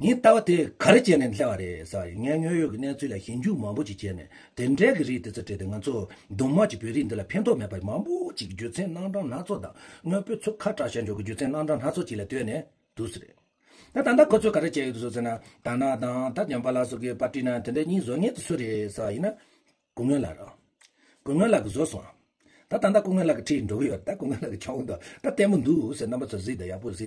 ངས་ལྟ་བ་དེ་ག་རེ་བྱས་ནས་སླེབས་བ་རེད་ཟེར་བ་ཡིན། ངས་དངོས་ཡོད་ཀྱི་གནས་ཚུལ་ལ་ཞིབ་འཇུག་མང་པོ་ཞིག་བྱས་ནས་དེ་འབྲེལ་གྱི་རིགས་དེ་ཚོ་བྲིས་ཏེ་ང་ཚོ་གདོང་དམར་གྱི་བོད་རིགས་འདི་ལ་ཕན་ཐོགས་མེད་པ་མང་པོ་ཞིག་རྒྱུ་མཚན་རྣམ་གྲངས་སྣ་ཚོགས་དང་དངོས་པོའི་ཚོ་ཁ་གྲགས་ཞལ་འཇོག་གི་རྒྱུ་མཚན་རྣམ་གྲངས་སྣ་ཚོགས་ཅིག་ལ་ལྟོས་ནས་འདུག་ཟེར། ད་ད་ལྟ་ཁོ་ཚོས་ག་རེ་བྱས་ཡོད་འདུག་ཟེར་ན། ད་ནག་དང་ད་ཉམས་པ་ལ་སོགས་ཀྱི་པར་བྲིས་ན་དེ་འདྲའི་སྙིང་བཟོ་ངེས་ཏུ་སུ་རེད་ཟེར་བ་ཡིན། སྐུ་ངོས་ལགས། སྐུ་ངོས་ལགས་བཟོ་སོང། ད་ད་ལྟ་སྐུ་ངོས་ལགས་ཀྱི་ཁྲིད་འགྲོ་གི་ཡོད་རེད་ད་སྐུ་ངོས་ལགས་ཀྱི་ཁྱོང་དང་ད་བརྟན་པོ་འདུག་ཟེར་རྣམ་པ་ཚོ་གཟིགས་དང་ཡག་པོ་གཟིགས།